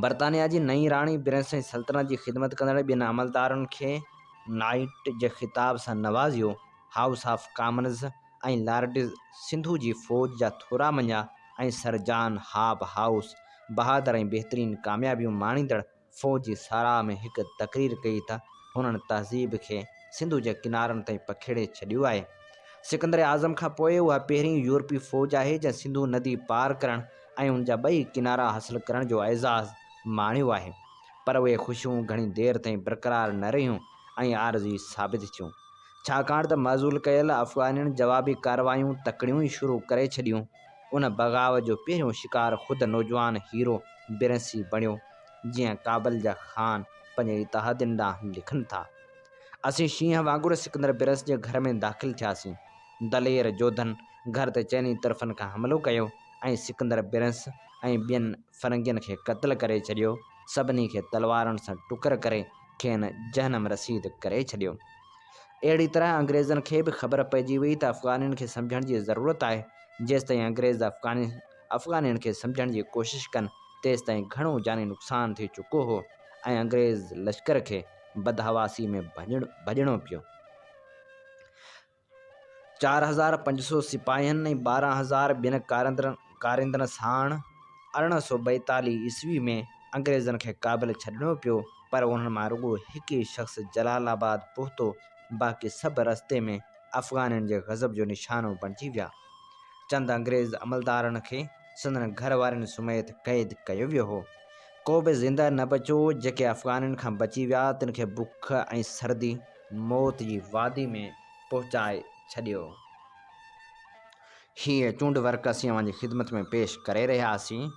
برطانيا جي نئين راڻي برنسٽائن سلطنت جي خدمت ڪندڙ ٻين عملدارن کي نائيٽ جي خطاب سان نوازيو، House of Commons ۽ Lords Sindhu جي فوج جا ٿورا مڃيا ۽ سر جان هاپ هائوس بهادر ۽ بهترين ڪاميابيون ماڻيندڙ فوج جي ساراهه ۾ هڪ تقرير ڪئي ته هنن تهذيب کي سنڌو جي ڪنارن تائين پکيڙي ڇڏيو آهي. سڪندر اعظم کان پوء اها پهرين يورپي فوج آهي جنهن سنڌو ندي پار ڪرڻ ۽ ان جا ٻئي ڪنارا حاصل ڪرڻ جو اعزاز ماڻيو آهي. پر اهي خوشيون گهڻي دير تائين برقرار نه رهيون ۽ عارضي ثابت ٿيون. ڇاڪاڻ ته معزول ڪيل افغانين جوابي ڪارروايون تڪڙيون ئي شروع ڪري ڇڏيون. ان بغاء جو پهريون شڪار خود نوجوان هيرو برنسي بڻيو. جيئن ڪابل جا خان پنهنجي اتحادين ڏانهن لکن ٿا. اسين شينهن وانگر سڪندر برنس جي گهر ۾ داخل ٿياسين. دلير جوڌن گهر تي چئني طرفن کان حملو ڪيو ۽ سڪندر برنس ۽ ٻين فرنگين کي قتل ڪري ڇڏيو. سڀني کي تلوارن سان ٽڪر ڪري کين جهنم رسيد ڪري ڇڏيو. اهڙي طرح انگريزن کي به خبر پئجي وئي ته افغانين کي سمجهڻ جي ضرورت آهي، جيستائين انگريز افغانين کي سمجهڻ جي ڪوشش ڪن تيستائين گهڻو جاني نقصان ٿي چڪو هو ۽ انگريز لشڪر کي بدحواسي ۾ ڀڄڻو پيو. چار هزار پنج سؤ سپاهين ۽ ٻارهن هزار ٻين ڪاريندرن ساڻ ارڙهن سؤ ٻائيتاليهه عيسوي ۾ انگريزن کي ڪابل ڇڏڻو پيو پر انهن مان رڳو هڪ ئي شخص جلال آباد پهتو باقي سڀ رستي ۾ افغانين جي غضب جو نشانو بڻجي ويا چند انگريز عملدارن کي سندن گهر وارين سميت قيد ڪيو ويو هو ڪو به زنده نه بچيو جيڪي افغانين کان بچي ويا تن کي بک ۽ سردي موت جي وادي ۾ پهچائي ڇڏيو. هيء چونڊ ورق اسين اوهان جي خدمت ۾ پيش ڪري رهياسين.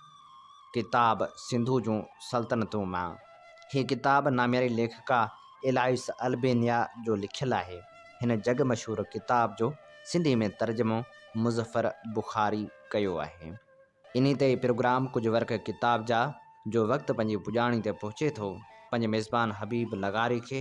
ڪتاب سنڌو جون سلطنتون مان. هيء ڪتاب نامياري ليکڪا ايلائيس البينيا جو لکيل آهي. هن جڳ مشهور ڪتاب جو سنڌي ۾ ترجمو مظفر بخاري ڪيو آهي. انهي تي ئي پروگرام ڪجهه ورق ڪتاب جا جو وقت پنهنجي پڄاڻي تي پهچي ٿو. پنهنجي ميزبان حبيب لغاري کي.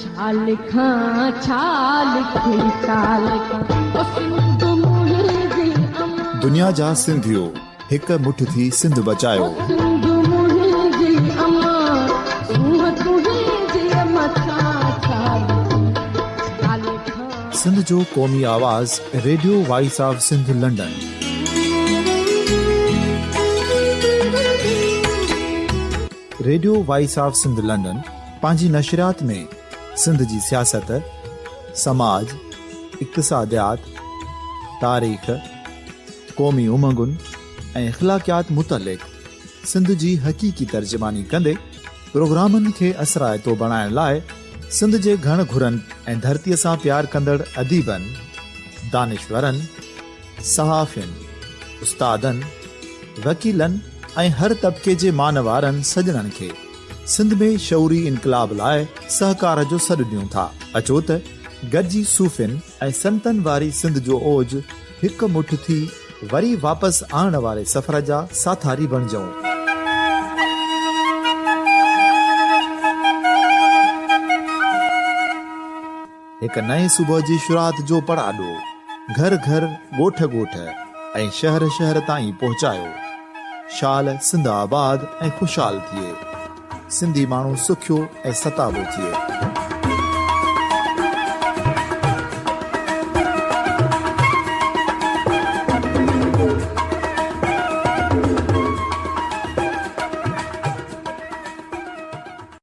ڇا لکان ڇا لکي ڇا لکان او سنڌ منهنجي امان. دنيا جا سنڌيو هڪ مٺ ٿي سنڌ بچايو. او سنڌ منهنجي امان سونهن تنهنجي مٿان ڇا لکان ڇا لکان. سنڌ جو قومي آواز Radio Voice of Sindh London. Radio Voice of Sindh London. پنهنجي نشريات ۾ سنڌ جي سياست، سماج، اقتصاديات، تاريخ، قومي امنگن ۽ اخلاقيات متعلق سنڌ جي حقيقي ترجماني ڪندي پروگرامن کي اثرائتو بڻائڻ لاء سنڌ جي گهڻ گهرن ۽ ڌرتيء سان پيار ڪندڙ اديبن، دانشورن، صحافين، استادن، وڪيلن ۽ هر طبقي جي مانوارن سڄڻن کي سنڌ ۾ شعوري انقلاب لاء سهڪار جو سڏ ڏيون ٿا، اچو ته گڏجي صوفين ۽ سنتن واري سنڌ جو اوج هڪ مٺ ٿي وري واپس آڻڻ واري سفر جا ساٿاري بڻجئون. هڪ نئين صبح جي شروعات جو پڙاڏو گهر گهر، ڳوٺ ڳوٺ ۽ شهر شهر تائين پهچايو. شال سنڌ آباد ۽ خوشحال ٿئي. سنڌي ماڻهو سکيو ۽ ستابو ٿئي.